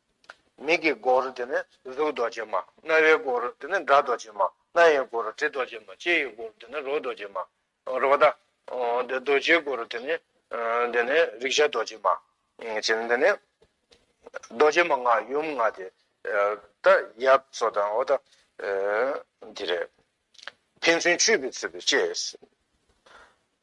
མིག་གི་སྒོར་རོ་དེ་ནི་གཟུགས་རྡོ་རྗེ་མ། རྣ་བའི་སྒོར་རོ་དེ་ནི་སྒྲ་རྡོ་རྗེ་མ། སྣ་ཡི་སྒོར་རོ་དྲི་རྡོ་རྗེ་མ། ལྕེ་ཡི་སྒོར་རོ་དེ་ནི་རོ་རྡོ་རྗེ་མ། རོ་བ་ད། རྡོ་རྗེའི་སྒོར་རོ་དེ་ནི། དེ་ནི་རེག་བྱ་རྡོ་རྗེ་མ། ཅེས་ནི་འདི་ནི། རྡོ་རྗེ་མ་ལྔ་ཡུམ་ལྔ་སྟེ། ད། ཡབ་སོགས་དང་འོ་ད། འདི་རེད། ཕན་ཚུན་འཁྱུད་པས་ཚུད་པའི་ལྕེ།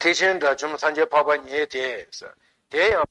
ཐེག་ཆེན་དགྲ་བཅོམ་སངས་རྒྱས་འཕགས་པ་མྱེད་དེ། དེ་ཡང།